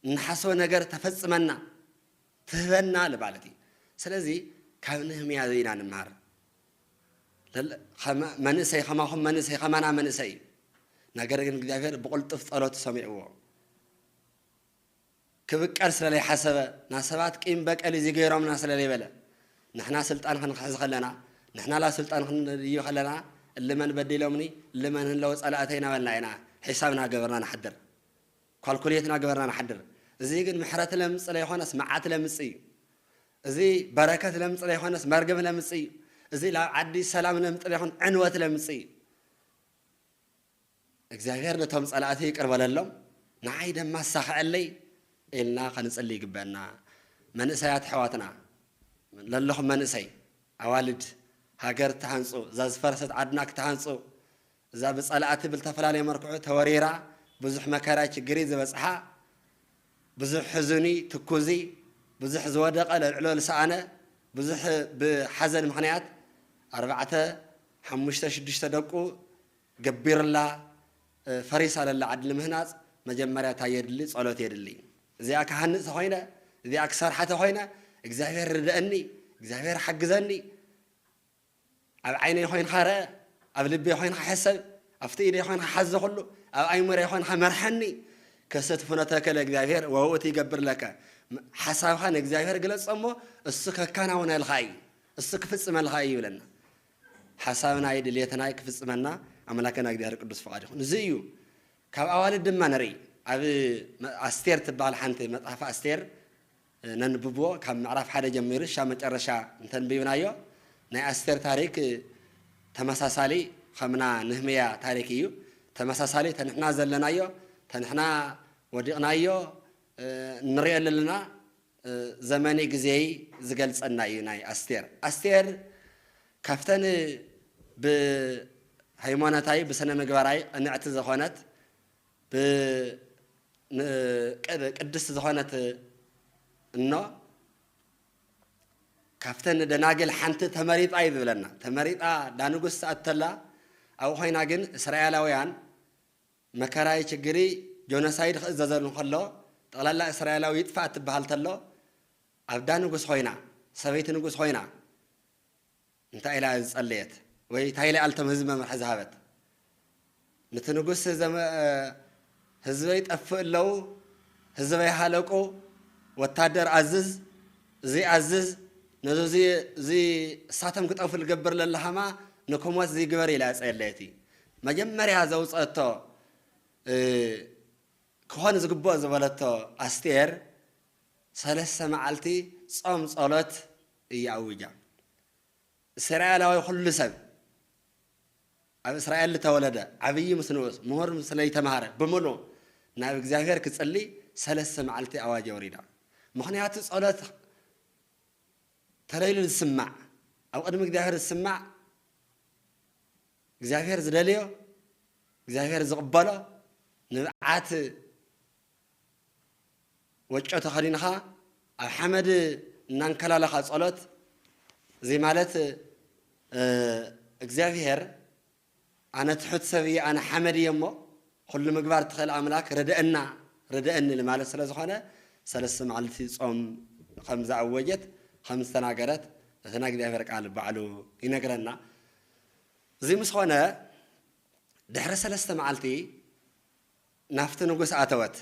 እንሓስቦ ነገር ተፈጽመና፣ ትህበና ልማለት እዩ። ስለዚ ካብ ነህምያ እዚ ኢና ንምሃር። መንእሰይ ከማኹም መንእሰይ ከማና መንእሰይ እዩ። ነገር ግን እግዚኣብሔር ብቕልጡፍ ጸሎቱ ሰሚዕዎ። ክብቀል ስለ ለይሓሰበ ን ሰባት ቂም በቀል እዚ ገይሮምና ስለ ለይበለ ንሕና ስልጣን ክንሕዝ ከለና ንሕና ላብ ስልጣን ክንድይብ ከለና እሊ መን በዲሎምኒ እሊ መን ህለወ ጸላእተይ ናበልና ኢና ሒሳብ ናገበርና ንሓድር ኳልኩሌት ናገበርና ንሓድር እዚ ግን ምሕረት ለምጽ ለይኮነስ መዓት ለምጽ እዩ እዚ በረከት ለምጽ ለይኮነስ መርገም ለምጽ እዩ እዚ ላብ ዓዲ ሰላም ለምጥ ለይኮን ዕንወት ለምጽ እዩ እግዚኣብሔር ነቶም ጸላእተይ ይቅር በለሎም ንዓይ ደማ ኣሳኽዐለይ ኢልና ከንጽሊ ይግበእና መንእሰያት ኣሕዋትና ለለኹም መንእሰይ ኣዋልድ ሃገር ትሃንጹ እዛ ዝፈረሰት ዓድና ክትሃንጹ እዛ ብጸላእቲ ብልተፈላለየ መርክዑ ተወሪራ ብዙሕ መከራ ችግሪ ዝበጽሓ ብዙሕ ሕዙኒ ትኩዚ ብዙሕ ዝወደቀ ለልዕሎ ልሰኣነ ብዙሕ ብሓዘን ምክንያት ኣርባዕተ ሓሙሽተ ሽዱሽተ ደቁ ገቢርላ ፈሪሳ ለላ ዓዲ ንምህናጽ መጀመርያ ታይ የድሊ ጸሎት የድሊ እዚኣ ክሃንጽ ተኾይነ እዚኣ ክሰርሓ ተኾይነ እግዚኣብሔር ርደእኒ እግዚኣብሔር ሓግዘኒ ኣብ ዓይነይ ኾይንካ ረእ ኣብ ልቤ ኾይንካ ሕሰብ ኣብቲ ኢደይ ኾይንካ ሓዝ ዘኹሉ ኣብ ኣይሙረይ ኾይንካ መርሐኒ ክስት ፍኖተከ ለእግዚኣብሔር ወውእቱ ይገብር ለከ ሓሳብካ ንእግዚኣብሔር ግለጾ እሞ እሱ ከካናውነልካ እዩ እሱ ክፍጽመልካ እዩ ይብለና ሓሳብናይ ድልየትናይ ክፍጽመና ኣምላከና እግዚኣብሔር ቅዱስ ፍቃድ ይኩን እዚ እዩ ካብ ኣዋልድ ድማ ንርኢ ኣብ ኣስቴር ትበሃል ሓንቲ መጽሓፍ ኣስቴር ነንብብዎ ካብ ምዕራፍ ሓደ ጀሚሩ ሻብ መጨረሻ እንተንቢብናዮ ናይ ኣስቴር ታሪክ ተመሳሳሊ ከምና ንህምያ ታሪክ እዩ ተመሳሳሊ ተንሕና ዘለናዮ ተንሕና ወዲቅናዮ እንሪኦ ለለና ዘመንይ ግዜይ ዝገልፀና እዩ ናይ ኣስቴር ኣስቴር ካፍተን ብሀይሞነታይ ብስነምግባራይ ቅንዕቲ ዘኮነት ብ ን ቅድስት ዝኮነት እኖ ካፍተን ደናግል ሓንቲ ተመሪጣ እዩ ዝብለና ተመሪጣ ዳንጉስ ትኣቱ ተላ ኣብኡ ኮይና ግን እስራኤላውያን መከራይ ችግርይ ጆኖሳይድ ክእዘዘሉ እንከሎ ጠቅላላ እስራኤላዊ ይጥፋእ እትብሃል ተሎ ኣብዳ ንጉስ ኮይና ሰበይቲ ንጉስ ኮይና እንታይ ኢላ እያ ዝጸለየት ወይ እንታይ ኢላ ኣልቶም ህዝቢ መምርሒ ዝሃበት ንቲ ንጉስ ህዝበይ ጠፍእ ኣለው ህዝበይ ሃለቁ ወታደር ኣዝዝ እዚ ኣዝዝ ነዚ እዚ እሳቶም ክጠፉ ልገብር ለላሃማ ንክሞት እዚ ግበር ኢላ እያ ጸለየቲ መጀመርያ ዘውጸእቶ ክኾን ዝግብኦ ዝበለቶ ኣስቴር ሰለስተ መዓልቲ ጾም ጸሎት እያ ኣዊጃ እስራኤላዊ ኩሉ ሰብ ኣብ እስራኤል ዝተወለደ ዓብዪ ምስ ንኡስ ምሁር ምስ ለይተምሃረ ብምሉ ናብ እግዚኣብሔር ክጽሊ ሰለስተ መዓልቲ ኣዋጅ ኣውሪዳ ምክንያቱ ጸሎት ተለይሉ ዝስማዕ ኣብ ቅድሚ እግዚኣብሔር ዝስማዕ እግዚኣብሔር ዝደልዮ እግዚኣብሔር ዝቕበሎ ንብዓት ወጮ ተኸዲንኻ ኣብ ሓመድ እናንከላለኻ ጸሎት እዚ ማለት እግዚኣብሔር ኣነ ትሑት ሰብ እየ ኣነ ሓመድ እየ እሞ ኩሉ ምግባር ትኽእል ኣምላክ ርድአና ርድአኒ ንማለት ስለ ዝኾነ ሰለስተ መዓልቲ ጾም ከም ዝኣወጀት ከም ዝተናገረት እቲ ናይ እግዚኣብሔር ቃል ባዕሉ ይነግረና እዚ ምስ ኾነ ድሕሪ ሰለስተ መዓልቲ ናብቲ ንጉስ ኣተወት።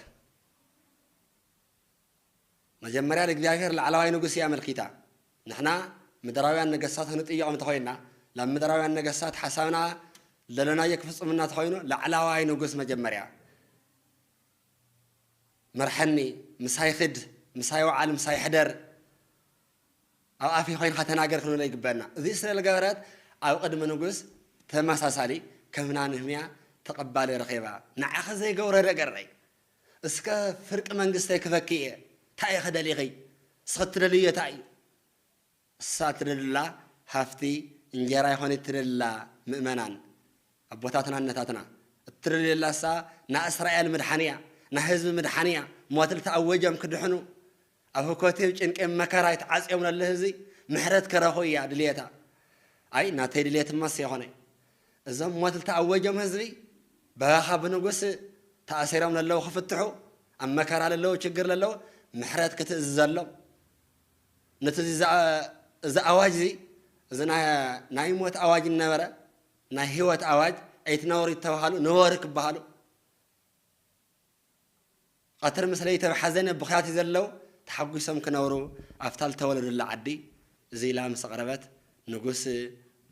መጀመርያ ንእግዚኣብሔር ላዕላዋይ ንጉስ እያ ኣመልኪታ። ንሕና ምድራውያን ነገሥታት ክንጥይቖም እንተኾይንና ናብ ምድራውያን ነገሥታት ሓሳብና ለሎናዮ ክፍጽሙና ተኾይኑ ላዕላዋይ ንጉስ መጀመርያ መርሐኒ ምሳይ ኽድ ምሳይ ወዓል ምሳይ ሕደር ኣብ ኣፍይ ኮይንካ ተናገር ክንብሎ ይግበእና እዚ ስለ ልገበረት ኣብ ቅድሚ ንጉስ ተመሳሳሊ ከፍና ንህምያ ተቀባሊ ረኪባ ንዓኪ ዘይገብሮ ደገረይ እስከ ፍርቂ መንግስተይ ክፈኪ እየ ታይ ኢኪ ደሊኪ እስኪ እትደልይዮ ታይ እዩ እሳ እትደልላ ሃፍቲ እንጀራ ኣይኮነት እትደልላ ምእመናን ኣቦታትና እነታትና እትደልየላ እሳ ናእስራኤል ምድሓን እያ ናህዝቢ ምድሓን እያ ሞት ልተኣወጀም ክድሕኑ ኣብ ህኮቴብ ጭንቄ መከራ ኣይ ተዓጽዮም ለለ ህዝቢ ምሕረት ክረኹ ኢያ ድልየታ ኣይ ናተይ ድልየት ማስ የኾነይ እዞም ሞት ልተኣወጆም ህዝቢ በሃኻ ብንጉስ ተኣሲሮም ለለዉ ክፍትሑ ኣብ መከራ ለለዉ ችግር ለለዉ ምሕረት ክትእዝዘሎም ነት እዚ እዚ ኣዋጅ እዚ እዚ ናይ ሞት ኣዋጅ እንነበረ ናይ ህይወት ኣዋጅ ኣይትነብሩ ይተባሃሉ ንበሩ ክበሃሉ ቐትር ምስ ለይቲ ኣብ ሓዘነ ብኽያት እዩ ዘለው ተሓጒሶም ክነብሩ ኣብታ ልተወለዱላ ዓዲ እዙይ ኢላ ምስ ኣቕረበት ንጉስ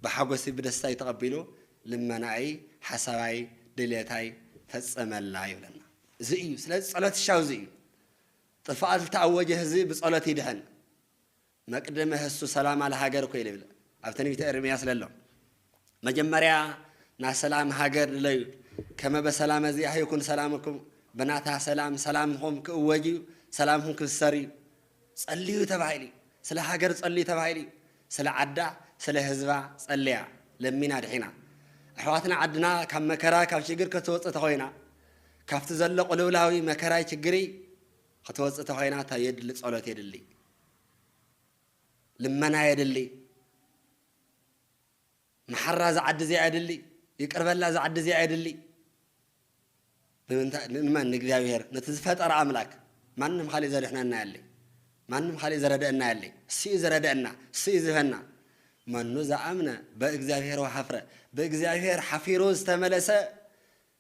ብሓጎሲ ብደስታ እዩ ተቐቢሉ ልመናኣይ ሓሳባይ ድልየታይ ፈፀመላ ይብለና እዙይ እዩ ስለዚ ፀሎት ይሻው እዙይ እዩ ጥፋኣት ልተኣወጀ ህዝቢ ብፀሎት ይድሕን መቅድመ ህሱ ሰላማ ለሃገር እኮ ይብል ኣብ ትንቢተ ኤርምያስ ለሎ መጀመርያ ናይ ሰላም ሃገር ድለዩ ከመ በሰላመ ዚኣህ ይኩን ሰላምኩም ብናታ ሰላም ሰላምኩም ክእወጅ እዩ ሰላምኩም ክብሰር እዩ ጸልዩ ተባሂሉ እዩ ስለ ሃገር ጸልዩ ተባሂሉ እዩ ስለ ዓዳ ስለ ህዝባ ጸልያ ለሚና ድሒና ኣሕዋትና ዓድና ካብ መከራ ካብ ሽግር ከተወፅእ ተኮይና ካብቲ ዘሎ ቅልውላዊ መከራይ ችግሪ ክትወፅእ ተኮይና እንታይ የድሊ ጸሎት የድሊ ልመና የድሊ መሓራ እዛ ዓዲ እዚኣ የድሊ ይቅርበላ እዛ ዓዲ እዚኣ የድሊ ንምንታይ ንመን ንእግዚኣብሔር ነቲ ዝፈጠረ ኣምላክ ማንም ካሊእ ዘድሕነና የለይ ማንም ካሊእ ዘረደአና የለይ እሱ እዩ ዘረደአና እሱ እዩ ዝህበና መኑ ዝኣምነ በእግዚኣብሔር ወሓፍረ በእግዚኣብሔር ሓፊሩ ዝተመለሰ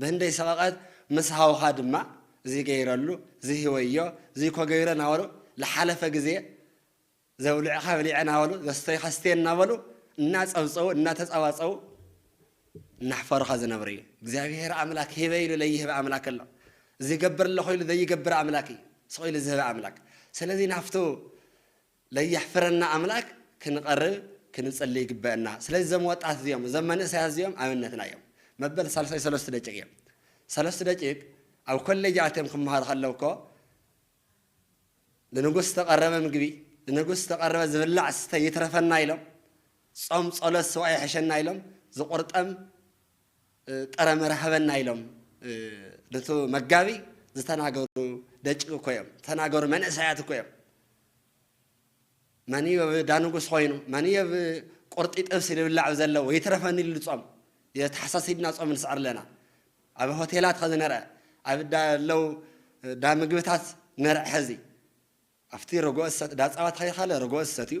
ብህንደይ ሰቐቐት ምስ ሃውኻ ድማ ዚገይረሉ ዚህወዮ ዚኮ ገይሮ እናበሉ ልሓለፈ ግዜ ዘብልዑኻ በሊዐ እናበሉ ዘስተዩኻ ስትየ እናበሉ እናጸብጸቡ እናተጻባጸቡ እናሕፈሩኻ ዝነብሩ እዩ። እግዚኣብሄር ኣምላክ ሂበ ኢሉ ለይህብ ኣምላክ ኣሎ። ዚገብር ኣለኹ ኢሉ ዘይገብር ኣምላክ እዩ። ስቕ ኢሉ ዝህብ ኣምላክ። ስለዚ ናብቱ ለየሕፍረና ኣምላክ ክንቀርብ ክንጽሊ ይግበእና ስለዚ ዘም ወጣት እዚኦም ዘም መንእሰያት እዚኦም ኣብነትና እዮም መበል ሳልሳይ ሰለስቱ ደቂቅ እዮም ሰለስቱ ደቂቅ ኣብ ኮሌጅ ኣትዮም ክመሃሩ ከለው እኮ ንንጉስ ዝተቀረበ ምግቢ ንንጉስ ዝተቀረበ ዝብላዕ ስተ ይትረፈና ኢሎም ጾም ጸሎት ስዋእ ይሕሸና ኢሎም ዝቁርጠም ጥረ መረ ሃበና ኢሎም ኑቲ መጋቢ ዝተናገሩ ደጭ እኮ እዮም ዝተናገሩ መንእሰያት እኮ እዮም መንዮ ብ ዳንጉስ ኮይኑ መንዮ ብ ቁርጢ ጥብሲ ልብላዕ ዘለ ወይትረፈኒ ልሉ ጾም ተሓሳሲብና ጾም ንስዕር ኣለና ኣብ ሆቴላት ኸዚ ነርዐ ኣብ ዳ ለው ዳ ምግብታት ነርዐ ኸዚ ኣብቲ ረጎኦ ዝሰጥ ዳፀባት ኸይኻለ ረጎኦ ዝሰትዩ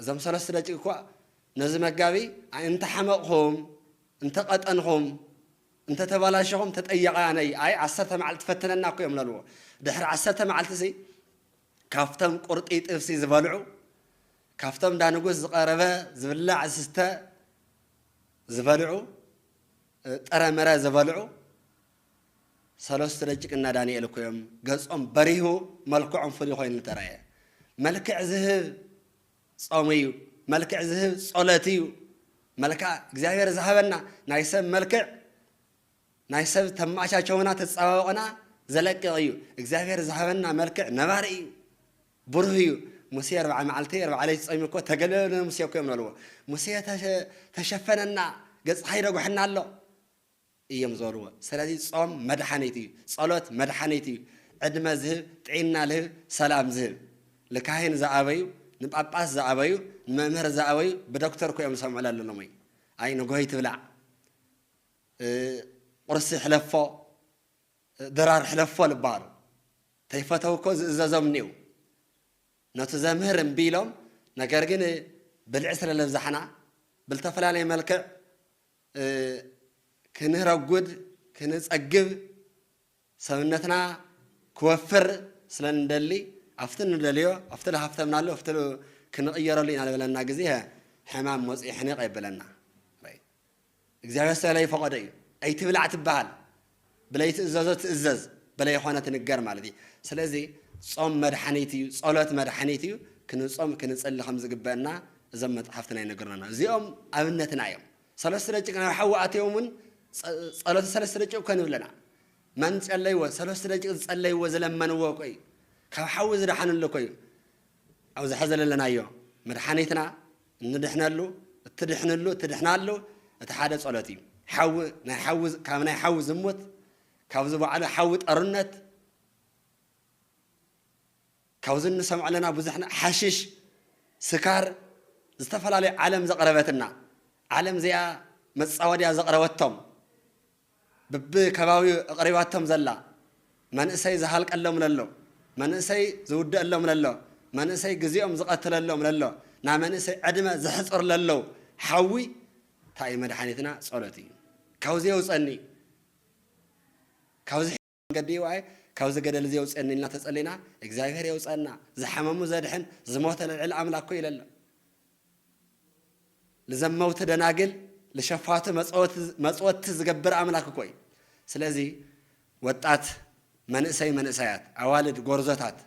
እዞም ሰለስት ደቂ እኳ ነዚ መጋቢ እንተ ሓመቕኹም፣ እንተ ቐጠንኹም፣ እንተ ተባላሸኹም ተጠያቒ ኣነ እይ፣ ኣይ ዓሰርተ መዓልቲ ፈትነና እኮ እዮም ለልዎ። ድሕሪ ዓሰርተ መዓልቲሲ ካብቶም ቁርጢ ጥብሲ ዝበልዑ፣ ካብቶም እንዳ ንጉስ ዝቐረበ ዝብላዕ ዝስተ ዝበልዑ፣ ጥረ ምረ ዝበልዑ፣ ሰለስቱ ደጭቅና ዳኒኤል እኮ እዮም ገጾም በሪሁ መልክዖም ፍሉይ ኮይኑ ተራእየ። መልክዕ ዝህብ ጾም እዩ፣ መልክዕ ዝህብ ጾለት እዩ፣ መልክዓ እግዚኣብሔር ዝሃበና ናይ ሰብ መልክዕ ናይ ሰብ ተማቻቸውና ተጸባብቕና ዘለቅቕ እዩ። እግዚኣብሔር ዝሃበና መልክዕ ነባሪ እዩ፣ ብሩህ እዩ። ሙሴ ኣርብዓ መዓልቲ ኣርብዓ ለይቲ ጾሚ እኮ ተገለለነ ሙሴ እኮ እዮም በልዎ። ሙሴ ተሸፈነና ገጽካ ይደጉሐና ኣሎ። እዮም ዝበልዎ ስለዚ ጾም መድሓኒት እዩ ጸሎት መድሓኒት እዩ ዕድመ ዝህብ ጥዒና ልህብ ሰላም ዝህብ ልካህን ዝኣበዩ ንጳጳስ ዝኣበዩ ንመምህር ዝኣበዩ ብደክተር እኮ እዮም ዝሰምዑ ለለ ሎሞይ ኣይ ንግሆ ኣይትብላዕ ቁርሲ ሕለፎ ድራር ሕለፎ ልባሃሉ ተይፈተው እኮ ዝእዘዞም እኒው ነቱ ዘምህር እምቢ ኢሎም ነገር ግን ብልዒ ስለ ለብዛሕና ብልተፈላለየ መልክዕ ክንረጉድ ክንጸግብ ሰብነትና ክወፍር ስለ ንደሊ ኣብቲ ንደልዮ ኣብቲ ዝሃፍተምናሉ ኣብቲ ክንቕየረሉ ኢና ዝበለና ግዜ ሕማም መጽኡ ሕኒቕ የብለና እግዚኣብሔር ስለለይፈቐዶ እዩ ኣይትብላዕ ትበሃል ብለይቲ እዘዞ ትእዘዝ በለ የኾነ ትንገር ማለት እዩ። ስለዚ ጾም መድሓኒት እዩ፣ ጸሎት መድሓኒት እዩ፣ ክንጾም ክንጽሊ ከም ዝግበእና እዞም መጽሓፍትና ይነግሩና ኣለዉ። እዚኦም ኣብነትና እዮም። ሰለስቱ ደቂቅ ናብ ሓዊ ኣትዮም እውን ጸሎተ ሰለስቱ ደቂቅ እኮ ንብለና መን ጸለይዎ ሰለስቱ ደቂቅ ዝጸለይዎ ዝለመንዎ እኮ እዩ ካብ ሓዊ ዝደሓንሉ እኮ እዩ ኣብዚ ሐዚ ዘለናዮ መድሓኒትና እንድሕነሉ እትድሕንሉ እትድሕናሉ እቲ ሓደ ጸሎት እዩ ሓዊ ናይ ሓዊ ካብ ናይ ሓዊ ዝሙት ካብዚ ባዕሉ ሓዊ ጠርነት ካብዚ እንሰምዖ ኣለና ብዙሕ ሓሽሽ ስካር ዝተፈላለዩ ዓለም ዘቕረበትና ዓለም እዚኣ መፃወድያ ዘቕረበቶም ብብከባቢኡ ኣቕሪባቶም ዘላ፣ መንእሰይ ዝሃልቀሎም ለሎ፣ መንእሰይ ዝውደእሎም ለሎ፣ መንእሰይ ግዜኦም ዝቐትለሎም ለሎ፣ ናይ መንእሰይ ዕድመ ዘሕጽር ለሎ ሓዊ ታይ እዩ መድሓኒትና ጸሎት እዩ ካብዚ የውጸኒ ካብዚ መንገዲ እዩ ኣየ ካብዚ ገደል እዚ የውፅእኒ ኢልና ተፀሊና እግዚኣብሔር የውፀእና ዝሓመሙ ዘድሕን ዝሞተ ለልዕል ኣምላክ እኮ ይለለ ልዘመውቲ ደናግል ልሸፋቱ መፅወቲ ዝገብር ኣምላክ እኮ እዩ ስለዚ ወጣት መንእሰይ መንእሰያት ኣዋልድ ጎርዞታት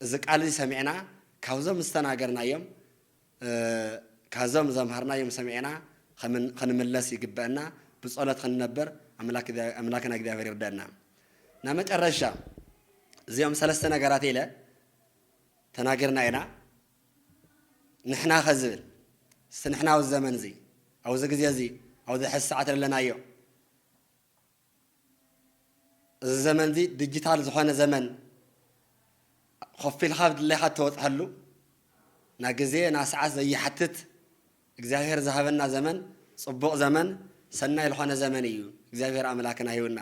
እዚ ቃል እዚ ሰሚዕና ካብዞም ዝተናገርናዮም ካዞም ዘምሃርናዮም ሰሚዕና ኽንምለስ ይግበእና ብጾሎት ኽንነብር ኣምላክና እግዚኣብሔር ይርደእና እና መጨረሻ እዚኦም ሰለስተ ነገራት ኢለ ተናገርና ኢና ንሕና ኸዝብል እስቲ ንሕና ኣብዚ ዘመን እዚ ኣብዚ ግዜ እዚ ኣብዚ ሕዚ ሰዓት ለለናዮ እዚ ዘመን እዚ ድጅታል ዝኾነ ዘመን ኾፍ ኢልኻ ድሌኻ እተወጽሐሉ ን ግዜ ን ስዓት ዘይሓትት እግዚኣብሔር ዝሃበና ዘመን ጽቡቅ ዘመን ሰናይ ልኾነ ዘመን እዩ እግዚኣብሔር ኣምላክና ሂቡና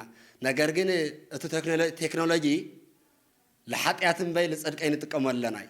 ነገር ግን እቱ ቴክኖሎጂ ልሓጥያት እምበይ ልጽድቀይ ንጥቀመሉ ኣለና እዩ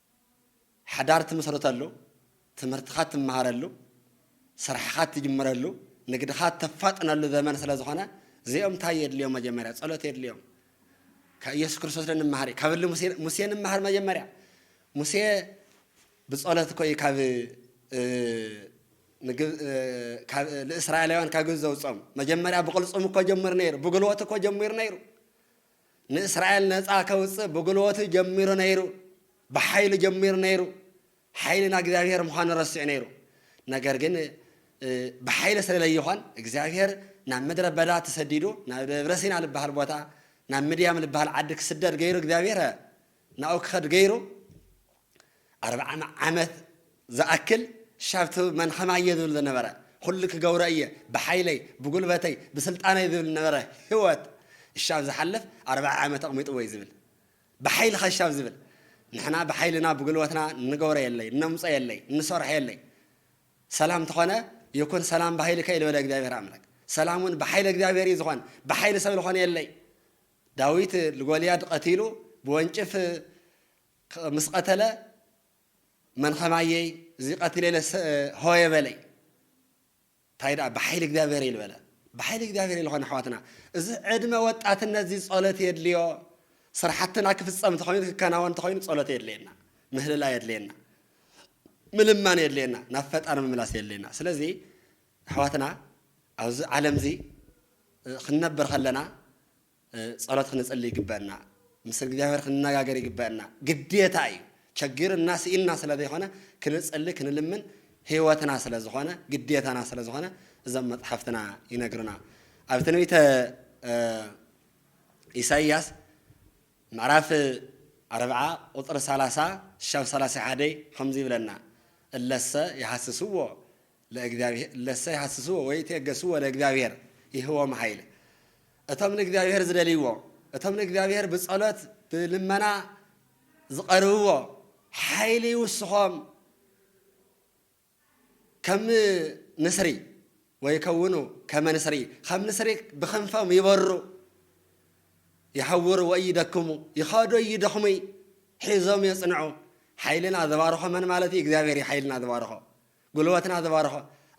ሓዳር ትምስርተሉ፣ ትምህርትኻ ትመሃረሉ፣ ስራሕኻ ትጅምረሉ፣ ንግድኻ ተፋጥነሉ ዘመን ስለ ዝኾነ እዚኦም እንታይ የድልዮም መጀመርያ ጸሎት የድልዮም። ካብ ኢየሱስ ክርስቶስ ዶ ንመሃር እዩ ካብ እሊ ሙሴ ንመሃር መጀመርያ ሙሴ ብጸሎት እኮ እዩ ካብ ንእስራኤላውያን ካብ ግብፂ ዘውፅኦም መጀመርያ ብቕልፅም እኮ ጀምር ነይሩ ብጉልበት እኮ ጀሚሩ ነይሩ ንእስራኤል ነጻ ከውጽእ ብጉልበቱ ጀሚሩ ነይሩ፣ ብሓይሉ ጀሚሩ ነይሩ። ሓይሊ ናይ እግዚኣብሔር ምዃኑ ረሲዑ ነይሩ። ነገር ግን ብሓይሊ ስለ ለይኾን እግዚኣብሔር ናብ ምድረ በዳ ተሰዲዱ ናብ ደብረ ሲና ልበሃል ቦታ ናብ ምድያም ልበሃል ዓዲ ክስደድ ገይሩ እግዚኣብሔር ናብኡ ክኸድ ገይሩ ኣርብዓን ዓመት ዝኣክል ሻብትብ መን ኸማየ ዝብል ዝነበረ ኹሉ ክገብሮ እየ ብሓይለይ ብጉልበተይ ብስልጣነይ ዝብል ዝነበረ ህወት እሻብ ዝሓልፍ ኣርብዓ ዓመት ኣቅሚጥዎይ ዝብል ብሓይሊ ኸሻብ ዝብል ንሕና ብሓይልና ብጉልበትና እንገብሮ የለይ እነምፆ የለይ እንሰርሖ የለይ ሰላም ተኾነ ይኩን ሰላም ብሃይልካ እዩ ዝበለ እግዚኣብሔር ኣምላክ ሰላም እውን ብሓይለ እግዚኣብሔር እዩ ዝኾን ብሓይሊ ሰብ ዝኾነ የለይ ዳዊት ልጎልያድ ቐቲሉ ብወንጭፍ ምስ ቐተለ መን ኸማየይ እዚ ቐቲለ ኢለ ሆየ በለይ ታይ ደኣ ብሓይሊ እግዚኣብሔር እዩ ልበለ ብሓይሊ እግዚኣብሔር ልኾነ ኣሕዋትና እዚ ዕድመ ወጣትነት እዚ ጸሎት የድልዮ ስራሕትና ክፍጸም እንተኾይኑ ክከናወን እንተኾይኑ ጸሎት የድልየና ምህልላ የድልየና ምልማን የድልየና ናብ ፈጣሪ ምምላስ የድልየና ስለዚ ኣሕዋትና ኣብዚ ዓለም እዚ ክንነብር ከለና ጸሎት ክንጽሊ ይግበእና ምስ እግዝኣብሄር ክንነጋገር ይግበእና ግዴታ እዩ ቸጊርና ሲኢንና ስለ ዘይኮነ ክንጽሊ ክንልምን ሂወትና ስለ ዝኾነ ግዴታና ስለ ዝኾነ እዞም መጽሓፍትና ይነግሩና ኣብ ትንቢተ ኢሳይያስ ምዕራፍ ኣርብዓ ቁጽሪ ሰላሳ ሻብ ሰላሳ ሓደይ ከምዚ ይብለና እለሰ ይሃስስዎ ለእግዚኣብሄር እለሰ ይሃስስዎ ወይእትየገስዎ ለእግዚኣብሄር ይህቦም ኃይል እቶም ንእግዚኣብሄር ዝደልይዎ እቶም ንእግዚኣብሄር ብጸሎት ብልመና ዝቐርብዎ ኃይል ይውስኾም ከም ንስሪ ወይከውኑ ከመ ንስሪ ከም ንስሪ ብኽንፎም ይበሩ ይሐውሩ ወኢይደክሙ ይኸዱ ይደኽሙይ ሒዞም የጽንዑ ኃይልና ዝባርኾ መን ማለት እዩ እግዚኣብሔር እዩ ኃይልና ዝባርኾ ጉልበትና ዝባረኾ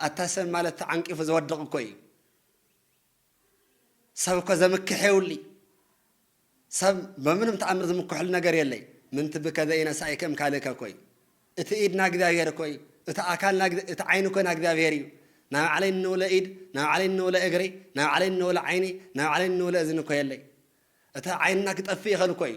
ኣታ ሰብ ማለት ተዓንቂፉ ዝወድቕ እኮ እዩ ሰብ እኮ ዘምክሕ የውሊ ሰብ በምንም ተኣምር ዝምክሕሉ ነገር የለይ ምንቲ ብከዘይ ነሳይ ከም ካልእከ እኮ እዩ እቲ ኢድና እግዚኣብሔር እኮ እዩ እቲ ኣካልና እቲ ዓይኒ እኮ ና እግዚኣብሔር እዩ ናይ ባዕለይ እንብለ ኢድ ናይ ባዕለይ እንብለ እግሪ ናይ ባዕለይ እንብለ ዓይኒ ናይ ባዕለይ እንብለ እዝኒ እኮ የለይ እቲ ዓይንና ክጠፍእ ይኽእል እኮ እዩ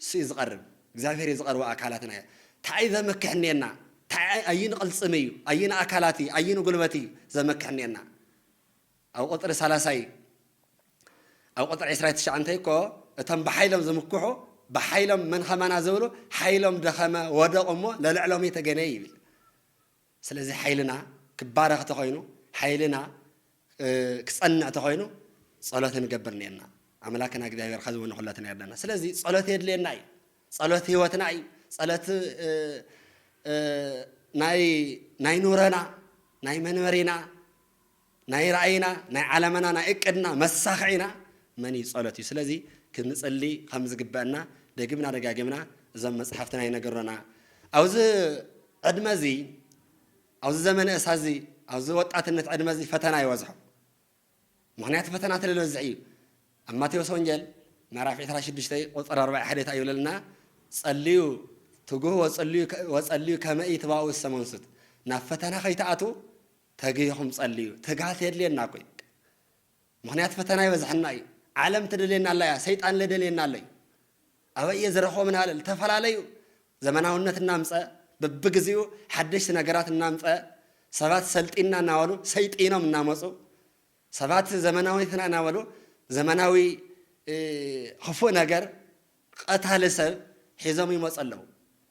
ንሱ እዩ ዝቐርብ እግዚኣብሔር እዩ ዝቐርቦ ኣካላትና እዩ ታኣይ ዘመክሕኔና ታኣይ ኣይን ቕልፅም እዩ ኣይን ኣካላት እዩ ኣይን ጉልበት እዩ ዘመክሕኔና ኣብ ቁፅሪ ሰላሳይ ኣብ ቁፅሪ ዕስራይ ትሽዓንተይ እኮ እቶም ብሓይሎም ዝምክሑ ብሓይሎም መን ኸማና ዝብሉ ሓይሎም ደኸመ ወደቑ እሞ ለልዕሎም የተገነ ይብል ስለዚ ሓይልና ክባረኽ ተኾይኑ ሓይልና ክጸንዕ ተኾይኑ ጸሎት ክንገብር ኔርና ኣምላክና እግዚኣብሔር ኸዚ ውን ኹለትና የርደና ስለዚ ጸሎት የድልየና እዩ ጸሎት ህይወትና እዩ ጸሎት ናይ ናይ ኑረና ናይ መንበሪና ናይ ራእይና ናይ ዓላማና ናይ እቅድና መሳኽዒና መን እዩ ጸሎት እዩ ስለዚ ክንጽሊ ከም ዝግበእና ደጊምና ደጋጊምና እዞም መጽሓፍትና ይነግሩና ኣብዚ ዕድመ እዚ ኣብዚ ዘመነ እሳ እዚ ኣብዚ ወጣትነት ዕድመ እዚ ፈተና ይበዝሖ ምክንያቱ ፈተና ተለበዝሕ እዩ ኣብ ማቴዎስ ወንጌል ምዕራፍ 26 ቁፅር 41 እንታይ ይብለልና ጸልዩ ትጉህ ወጸልዩ ከመኢ ትባኡ ሰመንሱት ናብ ፈተና ከይትኣትዉ ተጊህኹም ጸልዩ ትግሃት የድልየና እኮ እዩ ምኽንያት ፈተና ይበዝሐና እዩ ዓለም ትደልየና ኣላ እያ ሰይጣን ለደልየና ኣሎ እዩ ኣበይ እየ ዝረኽቦም ንሃለል ተፈላለዩ ዘመናውነት እናምፀ በብግዚኡ ሓደሽቲ ነገራት እናምፀ ሰባት ሰልጢና እናበሉ ሰይጢኖም እናመፁ ሰባት ዘመናዊትና እናበሉ ዘመናዊ ክፉእ ነገር ቀታሊ ሰብ ሒዞም ይመፁ ኣለዉ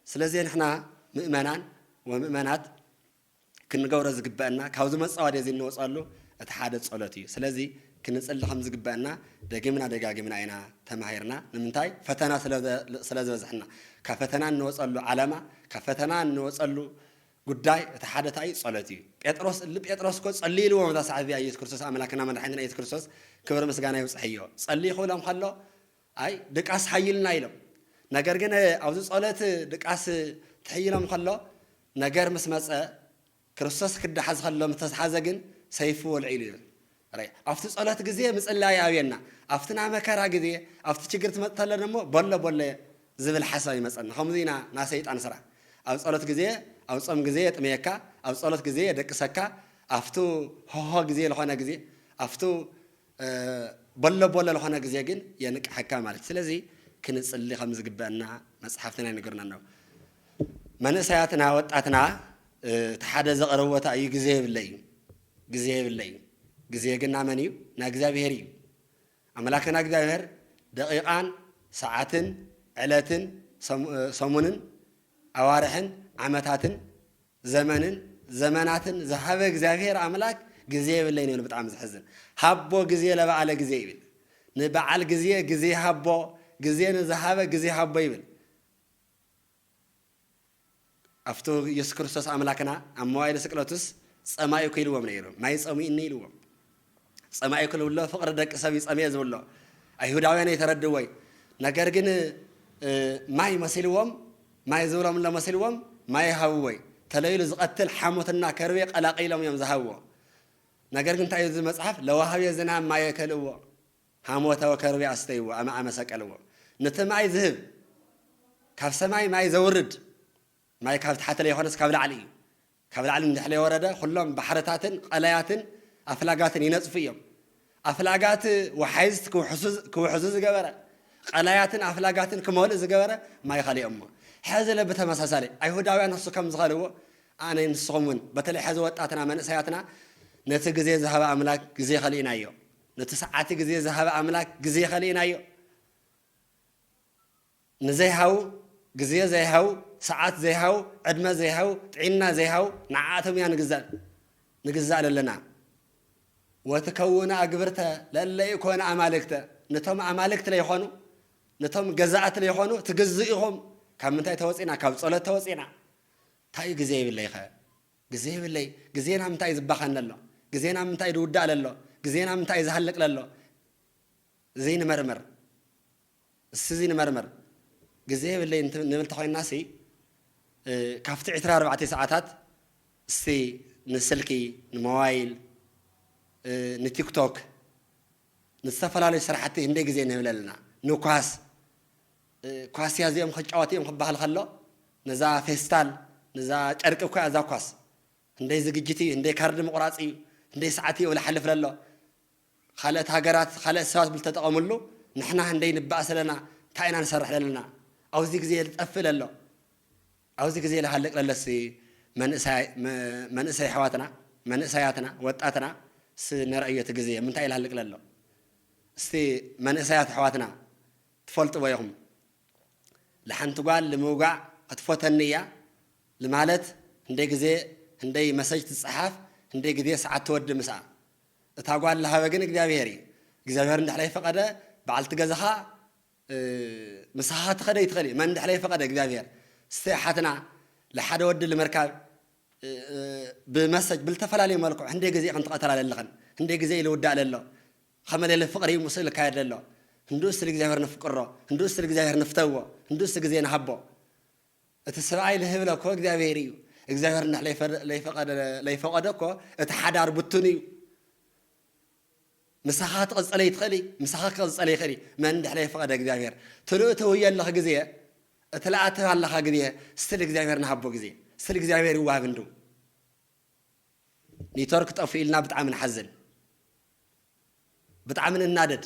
ስለዚ ንሕና ምእመናን ወምእመናት ክንገብሮ ዝግበእና ካብዚ መጻወድያ እዚ እንወጸሉ እቲ ሓደ ጸሎት እዩ ስለዚ ክንጽሊ ከም ዝግበእና ደጊምና ደጋጊምና ኢና ተማሂርና ንምንታይ ፈተና ስለ ዝበዝሐና ካብ ፈተና እንወጸሉ ዓላማ ካብ ፈተና እንወጸሉ ጉዳይ እቲ ሓደ ታይ እዩ ጸሎት እዩ ጴጥሮስ እል ጴጥሮስ እኮ ጸሊ ኢልዎም እዛ ሰዓት እዚኣ ኢየሱስ ክርስቶስ ኣምላክና መድሓኒትና ኢየሱስ ክርስቶስ ክብሪ ምስጋና ይብጽሕዮ ጸሊ ክብሎም ከሎ ኣይ ድቃስ ሓይልና ኢሎም ነገር ግን ኣብዚ ጸሎት ድቃስ ትሕይሎም ከሎ ነገር ምስ መጸ ክርስቶስ ክዳሓዝ ከሎ ምስ ተዝሓዘ ግን ሰይፊ ወልዒሉ ይብል ራይ ኣብቲ ጸሎት ግዜ ምጽላይ ኣብየና ኣብቲ ናይ መከራ ግዜ ኣብቲ ችግር ትመጽ ተለ ደሞ በሎ በሎ ዝብል ሓሳብ ይመጸና ከምዚ ኢና ናይ ሰይጣን ስራሕ ኣብ ጸሎት ግዜ ኣብ ጾም ግዜ የጥምየካ ኣብ ጸሎት ግዜ የደቅሰካ ኣብቱ ሆሆ ግዜ ልኾነ ግዜ ኣብቱ በሎ በሎ ልኾነ ግዜ ግን የንቅሐካ ማለት እዩ ስለዚ ክንጽሊ ከምዝግበእና መጽሐፍትና ይንግርና ኣሎ መንእሰያትና ወጣትና እቲ ሐደ ዘቅረቦታ እዩ ግዜ የብለ እዩ ግዜ የብለ እዩ ግዜ ግን ናመን እዩ ናይ እግዚኣብሔር እዩ ኣምላክና እግዚኣብሔር ደቂቃን ሰዓትን ዕለትን ሰሙንን ኣዋርሕን ዓመታትን ዘመንን ዘመናትን ዝሃበ እግዚኣብሔር ኣምላክ ግዜ የብለይን ይብል ብጣዕሚ ዘሕዝን ሃቦ ግዜ ለበዓለ ግዜ ይብል ንበዓል ግዜ ግዜ ሃቦ ግዜ ንዝሃበ ግዜ ሃቦ ይብል ኣብቱ ኢየሱስ ክርስቶስ ኣምላክና ኣብ መዋይል ስቅለቱስ ጸማኢኩ ኢልዎም ነይሩ ማይ ጸሚኡኒ ኢልዎም ጸማኢ ክልብሎ ፍቅሪ ደቂ ሰብ ይጸምኤ ዝብሎ ኣይሁዳውያን ኣይተረድዎይ ነገር ግን ማይ መሲልዎም ማይ ዝብረምሎ መሲልዎም ማይ ይሃብዎይ ተለይሉ ዝቀትል ሓሞትና ከርቤ ቀላቂሎም እዮም ዝሃብዎ ነገር ግን እንታይ እዩ መጽሓፍ ለዋሃቤ ዝናም ማየ ከልእዎ ሃሞተወ ከርቤ ኣስተይዎ ኣመ ኣመሰቀልዎ ንቲ ማይ ዝህብ ካብ ሰማይ ማይ ዘውርድ ማይ ካብ ታሕቲ ለይኮነስ ካብ ላዕሊ እዩ። ካብ ላዕሊ እንድሕለይወረደ ኩሎም ባሕርታትን ቐላያትን ኣፍላጋትን ይነጽፉ እዮም። ኣፍላጋት ወሓይዝት ክውሕዙ ዝገበረ፣ ቐላያትን ኣፍላጋትን ክመልኡ ዝገበረ ማይ ኸሌ እሞ ሕዚ ለ ብተመሳሳሊ ኣይሁዳውያን ንሱ ከም ዝኸልዎ ኣነ ንስኹም እውን በተለይ ሕዚ ወጣትና መንእሰያትና ነቲ ግዜ ዝሃበ ኣምላክ ግዜ ኸሊእናዮ ነቲ ሰዓቲ ግዜ ዝሃበ ኣምላክ ግዜ ኸሊእናዮ ንዘይሃው፣ ግዜ ዘይሃው፣ ሰዓት ዘይሃው፣ ዕድመ ዘይሃው፣ ጥዒና ዘይሃው፣ ንዓኣቶም ኢና ንግዛእ ንግዛእ ለለና። ወትከውኑ ኣግብርተ ለእለ ኢኮኑ ኣማልክተ፣ ነቶም ኣማልክት ለይኮኑ፣ ነቶም ገዛእት ለይኮኑ ትግዝኡ ኢኹም። ካብ ምንታይ ተወጺእና? ካብ ጸሎት ተወጺእና። ታዩ ግዜ ይብለይኸ? ግዜ ይብለይ? ግዜ ናብ ምንታይ እዩ ዝባኸን ለሎ? ግዜ ናብ ምንታይ እዩ ዝውዳእ ለሎ? ግዜ ናብ ምንታይ እዩ ዝሃልቅ ለሎ? እዚ ንመርምር። እስዚ ንመርምር ግዜ የብለይን ንብል ተኾይንናሲ ካብቲ ዕስራ ኣርባዕተ ሰዓታት እስቲ ንስልኪ ንሞባይል ንቲክቶክ ንዝተፈላለዩ ስራሕቲ ህንደይ ግዜ ንህብል ኣለና ንኳስ ኳስያ እዚኦም ክጫወቱ እዮም ክበሃል ከሎ ነዛ ፌስታል ነዛ ጨርቂ እኮያ እዛ ኳስ ህንደይ ዝግጅት እዩ ህንደይ ካርዲ ምቑራፅ እዩ ህንደይ ሰዓት እዩ እብል ሓልፍ ለሎ ኻልኦት ሃገራት ኻልኦት ሰባት ብልተጠቐምሉ ንሕና ህንደይ ንባኣስ ኣለና ታይ ኢና ንሰርሕ ለለና ኣውዚ ግዜ ልጠፍእ ለሎ ኣውዚ ግዜ ልሃልቅ ለለሲ መንእሰይ ኣሕዋትና መንእሰያትና ወጣትና ሲ ነርኣዮ እቲ ግዜ ምንታይ እዩ ልሃልቅ ለሎ እስቲ መንእሰያት ኣሕዋትና ትፈልጥዎ ኢኹም ልሓንቲ ጓል ልምውጋእ ኽትፎተኒ እያ ልማለት ህንደይ ግዜ ህንደይ መሰጅ ትጻሓፍ ህንደይ ግዜ ሳዓት ትወዲ ምስኣ እታ ጓል ልሃበ ግን እግዚኣብሄር እዩ እግዚኣብሄር እንድሕር ዘይፈቀደ በዓልቲ ገዛኻ ምሳኻ ትኸደ ይትኸል እዩ መን እንድሕር ዘይፈቀደ እግዚኣብሄር ስተ ሓትና ልሓደ ወዲ ልምርካብ ብመሰጅ ብልተፈላለዩ መልክዑ ህንደይ ግዜ ኢኽን ትቐተላ ለለኽን ህንደይ ግዜ ኢልውዳእ ለሎ ኸመ ሌለ ፍቕሪ እዩ ምስኡ ልካየድ ለሎ ህንዱኡ ስል እግዚኣብሄር ንፍቅሮ ህንዱኡ ስል እግዚኣብሄር ንፍተዎ ህንዱኡ ስ ግዜ ንሃቦ እቲ ስብኣይ ልህብለ እኮ እግዚኣብሔር እዩ እግዚኣብሔር እንድሕ ለይፈቀደ እኮ እቲ ሓዳር ብቱን እዩ ምሳኻ ትቕፅለ ይትኽእል እዩ ምሳኻ ክቕፅለ ይኽእል እዩ መን እንድሕ ለይፈቀደ እግዚኣብሔር ትልኡ ተውየ ኣለኽ ግዜ እቲ ለኣትብ ኣለኻ ግዜ ስትል እግዚኣብሔር ንሃቦ ግዜ ስትል እግዚኣብሔር ይዋሃብ እንዱ ኔትወርክ ጠፉ ኢልና ብጣዕሚ ንሓዝን ብጣዕሚ ንናደድ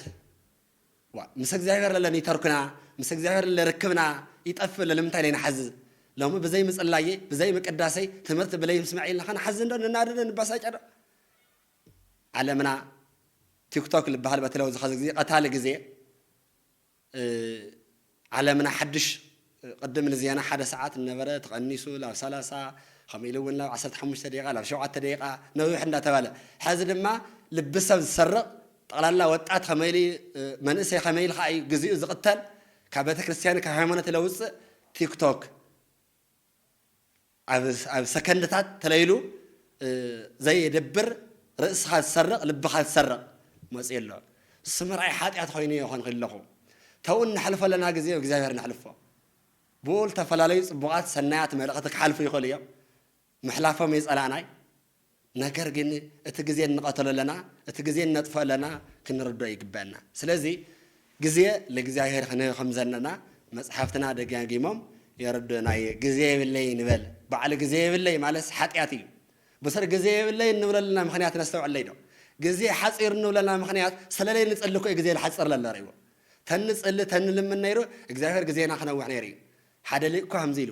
ዋእ ምስ እግዚኣብሔር ለለ ኒተርክና ምስ እግዚኣብሔር ለለ ርክብና ይጠፍእ ለልምንታይ ለይ ንሓዝዝ ሎሚ ብዘይ ምጽላየይ ብዘይ ምቅዳሰይ ትምህርቲ ብለይ ምስመዐይ ለካ ንሓዝን ዶ ንናደድ ዶ ንባሳጨ ዶ ዓለምና ቲክቶክ ልበሃል በተለይ ዝኸዚ ግዜ ቀታሊ ግዜ ዓለምና ሓድሽ ቅድም ንዜና ሓደ ሰዓት እነበረ ተቐኒሱ ላብ ሰላሳ ከምኡ ኢሉ እውን ላብ ዓሰርተ ሓሙሽተ ደቂቓ ላብ ሸውዓተ ደቂቓ ነዊሕ እንዳተባለ ሐዚ ድማ ልቢ ሰብ ዝሰርቕ ጠቕላላ ወጣት ከመይ ኢሉ መንእሰይ ከመይ ኢሉ ከኣ እዩ ግዚኡ ዝቕተል ካብ ቤተክርስትያንን ካብ ሃይማኖትን ለውፅእ ቲክቶክ ኣብ ሰከንድታት ተለይሉ ዘየድብር ርእስኻ ዝሰርቕ ልብኻ ዝሰርቕ መጽዩ ኣሎ እሱ ምርኣይ ሓጢኣት ኮይኑ የኾንኺ ኣለኹ ተው እነሕልፎ ኣለና ግዜ እግዚኣብሔር ነሕልፎ ብኡ ልተፈላለዩ ጽቡቓት ሰናያት መልእኽቲ ክሓልፉ ይኽእሉ እዮም ምሕላፎም የጸላእናይ ነገር ግን እቲ ግዜ እንቐተሎ ኣለና እቲ ግዜ እነጥፍኦ ኣለና ክንርድኦ ይግበእና ስለዚ ግዜ ለእግዚኣብሔር ክንህብ ከምዘለና መጽሓፍትና ደጋጊሞም የረድኡና እየ ግዜ የብለይ ንበል ባዕሉ ግዜ የብለይ ማለትስ ሓጢኣት እዩ ብስሪ ግዜ የብለይ እንብለልና ምክንያት ነስተውዕለይ ዶ ግዜ ሓጺሩ እንብለና ምክንያት ስለለይ ንጽሊ እኮ ግዜ ዝሓጽር ለሎ ርዎ ተንጽሊ ተንልምን ነይሩ እግዚኣብሔር ግዜና ክነውሕ ነይሩ እዩ ሓደ ሊቅ እኳ ከምዚ ኢሉ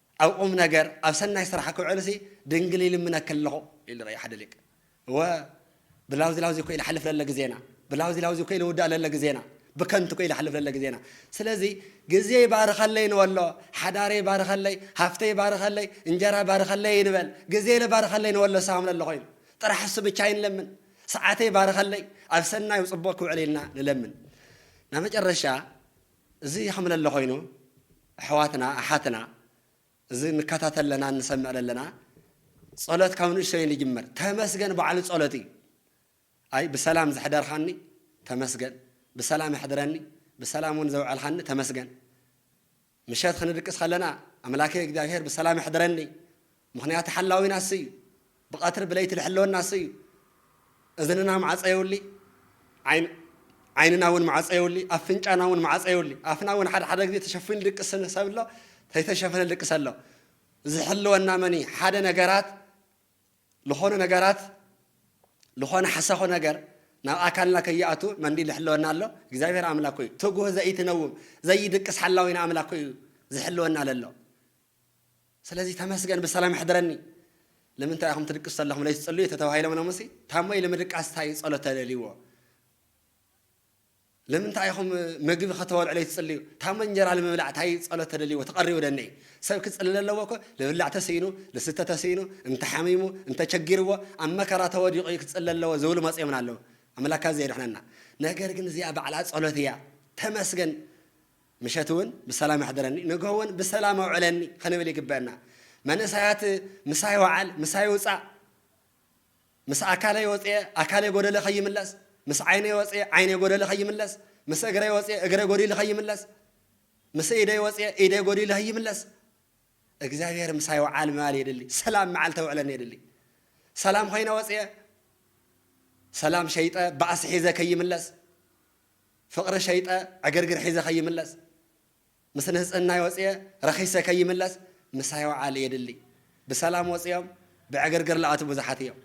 ኣብ ቁም ነገር ኣብ ሰናይ ስራሕ ክውዕልሲ ድንግል ይልምነኪ ኣለኹ ኢሉ ርኣዩ ሓደ ሊቅ። እወ ብላውዚ ላውዚ እኮ ኢለሓልፍ ለለ ግዜና ብላውዚ ላውዚ እኮ ኢልውዳእ ለለ ግዜና ብከንቱ እኮ ኢለሓልፍ ለለ ግዜና ስለዚ ግዜይ ባርኸለይ ንበሎ ሓዳረይ ባርኸለይ ሃፍተይ ባርኸለይ እንጀራ ባርኸለይ ኣይንበል ግዜለ ባርኸለይ ንበሎ ሳም ለለ ኮይኑ ጥራሕ እሱ ብቻ ኣይንለምን ሰዓተይ ባርኸለይ ኣብ ሰናይ ጽቡቕ ክውዕል ኢልና ንለምን ናብ መጨረሻ እዚ ከምለሎ ኮይኑ ኣሕዋትና ኣሓትና እዚ ንካታተል ለናን ንሰምዕ ለለና ጸሎት ካብ ንእሽቶይ ንጅምር ተመስገን ባዕሉ ጸሎት እዩ ኣይ ብሰላም ዘሕደርካኒ ተመስገን ብሰላም ኣሕድረኒ ብሰላም እውን ዘውዐልካኒ ተመስገን ምሸት ክንድቅስ ከለና ኣምላከይ እግዚኣብሔር ብሰላም ኣሕድረኒ ምኽንያቱ ሓላዊና እሱ እዩ። ብቐትሪ ብለይቲ ልሕልወና እሱ እዩ። እዝንና ማዕጾ የውሊ፣ ዓይን ዓይንና እውን ማዕጾ የውሊ፣ ኣፍንጫና እውን ማዕጾ የውሊ። ኣፍና እውን ሓደ ሓደ ግዜ ተሸፊኑ ልድቅስ ሰብ ኣሎ፣ ተይተሸፈነ ልድቅስ ኣሎ። ዝሕልወና መን እዩ? ሓደ ነገራት ልኾኑ ነገራት ልኾነ ሓሳኹ ነገር ናብ ኣካልና ከይኣቱ መንዲ ልሕልወና ኣሎ? እግዚኣብሔር ኣምላክ እዩ። ትጉህ ዘይትነውም ዘይድቅስ ሓላዊና ኣምላክ እዩ ዝሕልወና ለሎ። ስለዚ ተመስገን ብሰላም የሕድረኒ። ልምንታይ ኢኹም ትድቅሱ ተለኹም ለይቲ ጸልዩ ተተባሂሎም ሎምሲ ታሞ ኢለ ምድቃስ እንታይ እዩ ጸሎት ተደልይዎ ልምንታይ ኢኹም ምግቢ ከተበልዑ ለይቲ ጽልዩ ታሞ እንጀራ ንምብላዕ እንታይ ጸሎት ተደልይዎ ተቐሪቡ ደነይ ሰብ ክጽልል ኣለዎ እኮ ልብላዕ ተስኢኑ ልስተ ተስኢኑ እንተሓሚሙ እንተቸጊርዎ ኣብ መከራ ተወዲቑ እዩ ክጽል ኣለዎ ዝብሉ መጽዮምና ኣለዉ ኣምላካ ዘየድሕነና ነገር ግን እዚኣ ባዕላ ጸሎት እያ ተመስገን ምሸት እውን ብሰላም ኣሕድረኒ ንግሆ እውን ብሰላም ኣውዕለኒ ክንብል ይግበእና። መንእሰያት ምሳይ ወዓል ምሳይ ውጻእ ምስ ኣካለይ ወጽየ ኣካለይ ጎደለ ከይምለስ፣ ምስ ዓይነይ ወጽየ ዓይነይ ጎደለ ከይምለስ፣ ምስ እግረይ ወጽየ እግረይ ጎዲሉ ከይምለስ፣ ምስ ኢደይ ወጽየ ኢደይ ጎዲሉ ከይምለስ እግዚኣብሔር ምሳይ ወዓል ምባል የድሊ። ሰላም መዓልቲ ኣውዕለኒ የድሊ። ሰላም ኮይነ ወጽየ ሰላም ሸይጠ ባእሲ ሒዘ ከይምለስ ፍቕሪ ሸይጠ ዕግርግር ሒዘ ከይምለስ ምስ ንህጽናይ ወጽየ ረኺሰ ከይምለስ ምሳይ ውዓል የድሊ ብሰላም ወጽዮም ብዕግርግር ልኣትው ብዙሓት እዮም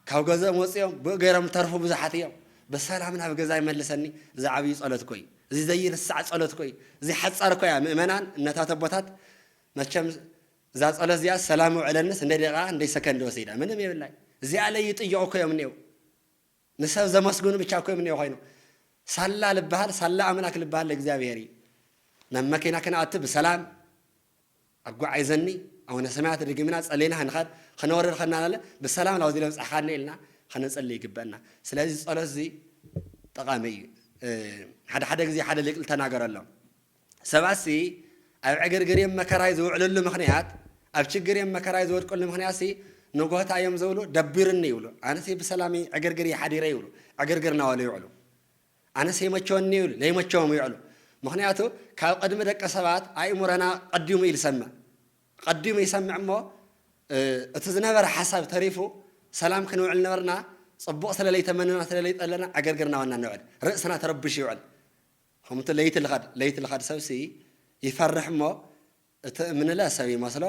ካብ ገዝኦም ወጽዮም ብኡ ገይሮም ልተርፉ ብዙሓት እዮም ብሰላም ናብ ገዛይ መልሰኒ እዚ ዓብዩ ጸሎት እኮ እዩ እዚ ዘይርሳዕ ጸሎት እኮ እዩ እዚ ሓጻር እኮ እያ ምእመናን እነታት ኣቦታት መቸም እዛ ጸሎት እዚኣ ሰላም ውዕለንስ እንደ ደቂቃ እንደ ሰከንድ ወሲዳ ምንም የብላይ እዚኣ ለይጥይቑ እኮ እዮም እኔው ንሰብ ዘመስግኑ ብቻ እኮ እዮም እኒኦ ኮይኖም ሳላ ልበሃል ሳላ ኣምላክ ልበሃል ለእግዚኣብሔር እዩ ናብ መኪና ክንኣቱ ብሰላም ኣጓዒዘኒ ኣውነ ሰማያት ድግምና ጸሊና ክንኸድ ክነወርድ ከና ናለ ብሰላም ናብ ዚለ ብጽሕካኒ ኢልና ከነጸሊ ይግበእና ስለዚ ጸሎት እዚ ጠቃሚ እዩ ሓደ ሓደ ግዜ ሓደ ሊቅ ልተናገረሎም ሰባትሲ ኣብ ዕግርግር እዮም መከራይ ዝውዕልሉ ምኽንያት ኣብ ችግር እዮም መከራይ ዝወድቅሉ ምኽንያትሲ ንጎታ እዮም ዝብሉ ደቢሩኒ ይብሉ ኣነሲ ብሰላም ዕግርግር እየ ሓዲረ ይብሉ ዕግርግር ናበሉ ይውዕሉ ኣነሲ ይመቸወኒ ይብሉ ለይመቸዎም ይውዕሉ ምኽንያቱ ካብ ቅድሚ ደቂ ሰባት ኣእምሮና ቀዲሙ እዩ ዝሰምዕ ቀዲሙ ይሰምዕ እሞ እቲ ዝነበረ ሓሳብ ተሪፉ ሰላም ክንውዕል ነበርና ፅቡቕ ስለለይተመነና ስለለይጠለና ዕግርግር ናበልና ንውዕል ርእስና ተረብሹ ይውዕል ከምቲ ለይቲ ልኸድ ለይቲ ልኸድ ሰብሲ ይፈርሕ እሞ እቲ እምንለ ሰብ ይመስሎ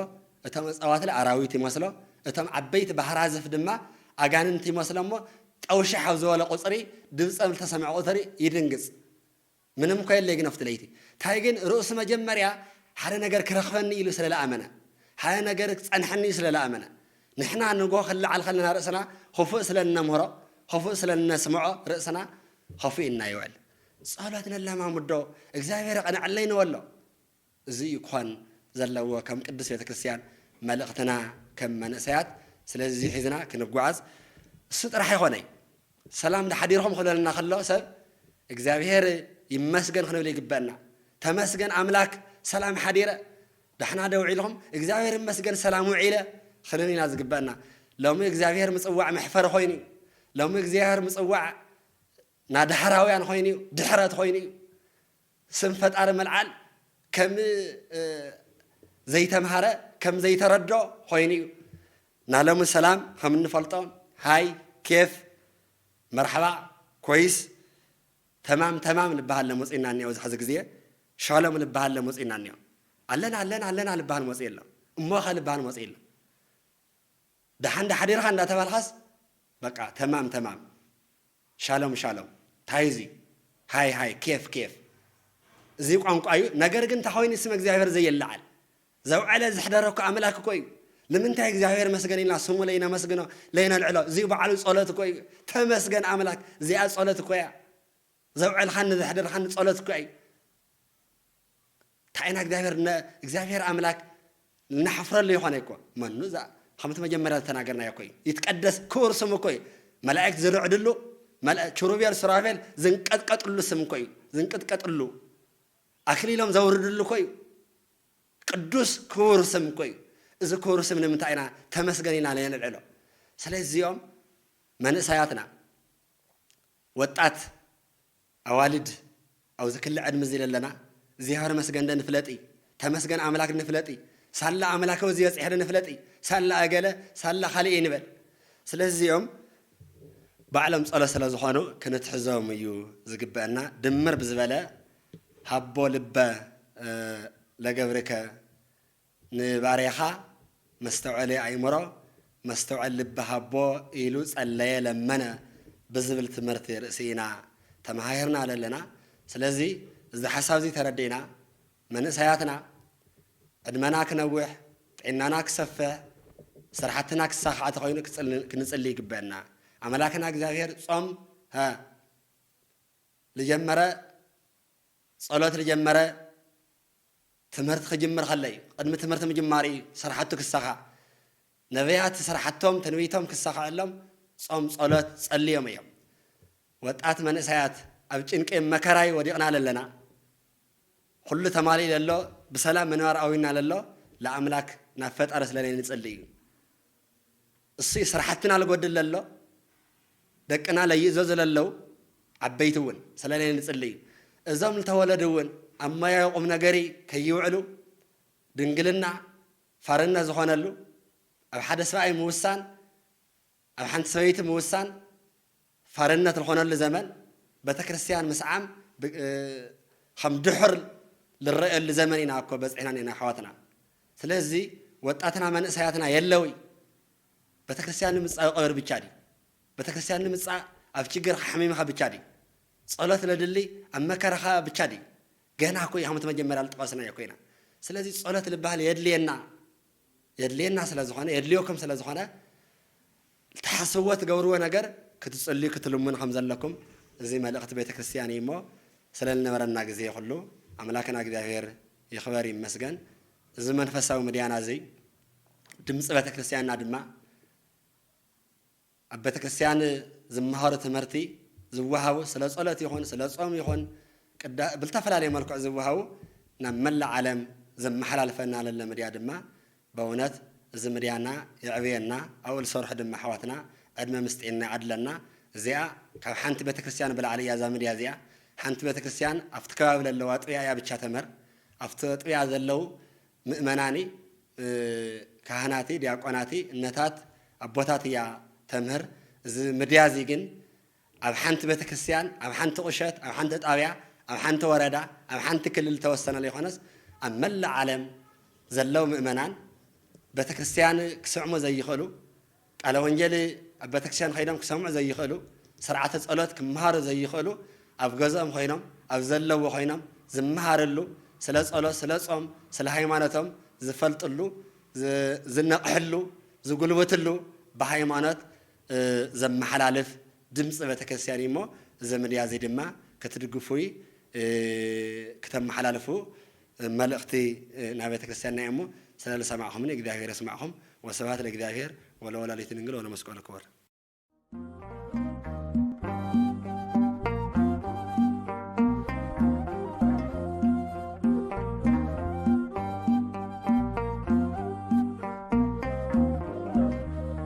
እቶም እፀዋትለ ኣራዊት ይመስሎ እቶም ዓበይቲ ባህራዝፍ ድማ ኣጋንንቲ ይመስሎ እሞ ጠው ሽሕ ኣብ ዝበሎ ቁፅሪ ድምፀም ልተሰምዐ ቁትሪ ይድንግፅ ምንም እኮ የለይ ግን ኣብቲ ለይቲ ታይ ግን ርእሱ መጀመርያ ሓደ ነገር ክረኽበኒ ኢሉ ስለ ልኣመነ ሓደ ነገር ክፀንሐኒ ስለ ልኣመነ ንሕና ንጎ ክልዓል ከለና ርእስና ኹፉእ ስለ እነምህሮ ኹፉእ ስለ እነስምዖ ርእስና ኸፊኡ እና ይውዕል ጸሎት ነለማምዶ እግዚኣብሔር የቕንዐለይ ንበሎ እዚ እዩ ክኾን ዘለዎ ከም ቅድስት ቤተ ክርስቲያን መልእኽትና ከም መንእሰያት ስለዚ ሒዝና ክንጓዓዝ እሱ ጥራሕ ኣይኾነይ ሰላም ዳሓዲርኹም ክብለልና ከሎ ሰብ እግዚኣብሔር ይመስገን ክንብል ይግበእና ተመስገን ኣምላክ ሰላም ሓዲረ ዳሕና ዶ ውዒልኹም እግዚኣብሔር ይመስገን ሰላም ውዒለ ክንብል ኢና ዝግበእና ሎሚ እግዚኣብሔር ምጽዋዕ መሕፈሪ ኮይኑ ሎሚ እግዚኣብሔር ምጽዋዕ እና ዳሕራውያን ኾይኑ እዩ ድሕረት ኾይኑ እዩ ስም ፈጣሪ ምልዓል ከም ዘይተምሃረ ከም ዘይተረዶ ኾይኑ እዩ እና ሎሚ ሰላም ኸም እንፈልጦን ሃይ ኬፍ መርሓባ ኮይስ ተማም ተማም ልበሃል ለሞጺና እኒኦ እዚ ሐዚ ግዜ ሻሎም ልበሃል ለሞጺና እኒኦ ኣለና ኣለና ኣለና ልበሃል ሞጺ ኣሎ እሞኸ ልበሃል ሞጺ ኣሎ ደሓን ዶ ሓዲርካ እንዳተባልካስ በቃ ተማም ተማም ሻሎም ሻሎም ታይ እዚ ሃይ ሃይ ኬፍ ኬፍ እዚ ቋንቋ እዩ ነገር ግን እንታይ ኮይኑ ስመ እግዚኣብሔር ዘይለዓል ዘውዐለ ዘሕደረ እኮ ኣምላክ እኮ እዩ ንምንታይ እግዚኣብሔር መስገን ኢልና ስሙ ለይነመስግኖ ለይነልዕሎ እዚ በዓሉ ጸሎት እኮ እዩ ተመስገን ኣምላክ እዚኣ ጸሎት እኮ እያ ዘውዐልካኒ ዘሕደርካኒ ጸሎት እኮ እዩ እንታይ ኢና እግዚኣብሔር ን እግዚኣብሔር ኣምላክ ንሓፍረሉ ይኾነ እኮ መኑ እዛ ከምቲ መጀመርያ ዝተናገርናዮ እኮ እዩ ይትቀደስ ክቡር ስሙ እኮ እዩ መላእክት ዝርዕድሉ መላ- ኪሩቤል ሱራፌል ዝንቀጥቀጥሉ ስም እኮ እዩ ዝንቅጥቀጥሉ ኣክሊሎም ዘውርድሉ እኮ እዩ ቅዱስ ክቡር ስም እኮ እዩ እዚ ክቡር ስም ንምንታይ ኢና ተመስገን ኢና ነንልዕሎ ስለዚኦም መንእሰያትና ወጣት ኣዋልድ ኣብዚ ክሊ ዕድሚ እዚ ለለና እግዚኣብሔር ይመስገን ዶ ንፍለጢ ተመስገን ኣምላክ ዶ ንፍለጢ ሳላ ኣምላከ እዚ በፂሐ ዶ ንፍለጢ ሳላ ኣገለ ሳላ ካሊእ ይንበል ስለዚ እዚኦም ባዕሎም ፀሎት ስለ ዝኮኑ ክንትሕዞም እዩ ዝግበእና ድምር ብዝበለ ሃቦ ልበ ለገብርከ ንባርያኻ መስተውዐሊ ኣእምሮ፣ መስተውዐል ልቢ ሃቦ ኢሉ ጸለየ ለመነ ብዝብል ትምህርቲ ርእሲ ኢና ተመሃሂርና ዘለና። ስለዚ እዚ ሓሳብ'ዚ ተረዲእና መንእሰያትና ዕድመና ክነውሕ፣ ጥዒናና ክሰፍሕ፣ ስራሕትና ክሳኻዕ ተኾይኑ ክንጽሊ ይግበእና። ኣመላክና እግዚኣብሔር ጾም ልጀመረ ጸሎት ልጀመረ ትምህርቲ ክጅምር ከሎ እዩ። ቕድሚ ትምህርቲ ምጅማሩ እዩ ስራሕቱ ክሳኻዕ። ነብያት ስራሕቶም፣ ትንቢቶም፣ ክሳኸዐሎም ጾም ጸሎት ጸልዮም እዮም። ወጣት መንእሰያት ኣብ ጭንቂ መከራይ ወዲቕና ለለና ኹሉ ተማሊኡ ለሎ ብሰላም ምንባር ኣውዩና ለሎ ልኣምላክ ናብ ፈጣሪ ስለነይ ንጽሊ እዩ። እሱይ ስራሕትና ልጎድል ለሎ ደቅና ለይእዘዙ ለለው ዓበይቲ እውን ሰለለይ ንፅልይ እዞም ልተወለዱ እውን ኣብ ሞያዊ ቁምነገርይ ከይውዕሉ ድንግልና ፋርነት ዝኾነሉ ኣብ ሓደ ሰብኣይ ምውሳን ኣብ ሓንቲ ሰበይቲ ምውሳን ፈርነት ልኾነሉ ዘመን በተክርስቲያን ምስዓም ኸም ድሑር ልረእየሉ ዘመን ኢና እኮ በጺሕና እኔና ኣሕዋትና ስለዚ ወጣትና መንእሰያትና የለውይ በተክርስቲያን ንምጻእ ቀብር ብቻ ድዩ በተክርስቲያን ንምጻእ ኣብ ችግርካ ሓሚምኻ ብቻ ድዩ ጸሎት ለድሊ ኣብ መከራኻ ብቻ ድዩ ገና እኮ ኢኻም መጀመርያ ልጠቐስናዮ እኮ ኢና ስለዚ ጸሎት ልበሃል የድልየና የድልየና ስለ ዝኾነ የድልዮኩም ስለ ዝኾነ ልትሓስብዎ ትገብርዎ ነገር ክትጽልዩ ክትልምኑ ከም ዘለኩም እዚ መልእኽቲ ቤተ ክርስትያን እዩ እሞ ስለ ልነበረና ግዜ ኩሉ ኣምላክና እግዚኣብሔር ይክበር ይመስገን እዚ መንፈሳዊ ምድያና እዚ ድምጺ ቤተ ክርስትያንና ድማ ኣብ ቤተ ክርስትያን ዝመሃሩ ትምህርቲ ዝወሃቡ ስለ ጸሎት ይኹን ስለ ጾም ይኹን ብልተፈላለየ መልክዑ ዝወሃቡ ናብ መላእ ዓለም ዘመሓላልፈና ለለ ምድያ ድማ በውነት እዚ ምድያና የዕብየና ኣብኡ ልሰርሑ ድማ ኣሕዋትና ዕድመ ምስ ጤና ይዓድለና እዚኣ ካብ ሓንቲ ቤተክርስትያን ብላዕሊ እያ እዛ ምድያ እዚኣ ሓንቲ ቤተክርስትያን ኣብቲ ከባቢ ለለዉ ኣጥብያ እያ ብቻ ተምህር ኣብቲ ኣጥብያ ዘለዉ ምእመናኒ ካህናቲ ዲያቆናቲ እነታት ኣቦታት እያ ተምህር እዚ ምድያ እዚ ግን ኣብ ሓንቲ ቤተክርስትያን፣ ኣብ ሓንቲ ቁሸት፣ ኣብ ሓንቲ ጣብያ፣ ኣብ ሓንቲ ወረዳ፣ ኣብ ሓንቲ ክልል ዝተወሰነ ለይኮነስ ኣብ መላእ ዓለም ዘለው ምእመናን ቤተክርስትያን ክስዕሙ ዘይኽእሉ፣ ቃለ ወንጌል ኣብ ቤተክርስትያን ከይዶም ክሰምዑ ዘይኽእሉ፣ ስርዓተ ጸሎት ክመሃሩ ዘይኽእሉ ኣብ ገዝኦም ኮይኖም ኣብ ዘለዎ ኮይኖም ዝመሃርሉ ስለ ጸሎት ስለ ጾም ስለ ሃይማኖቶም ዝፈልጥሉ ዝነቕሕሉ ዝጉልብትሉ ብሃይማኖት ዘመሓላልፍ ድምፂ ቤተክርስቲያን እዩ እሞ እዚ ምድያ እዚ ድማ ክትድግፉ ክተመሓላልፉ መልእክቲ ናይ ቤተክርስቲያንና እዩ እሞ ስለ ልሰማዕኹምኒ እግዚኣብሔር የስማዕኹም ወስብሃት ለእግዚኣብሔር ወለወላዲቱ ድንግል ወለመስቀሉ ክቡር።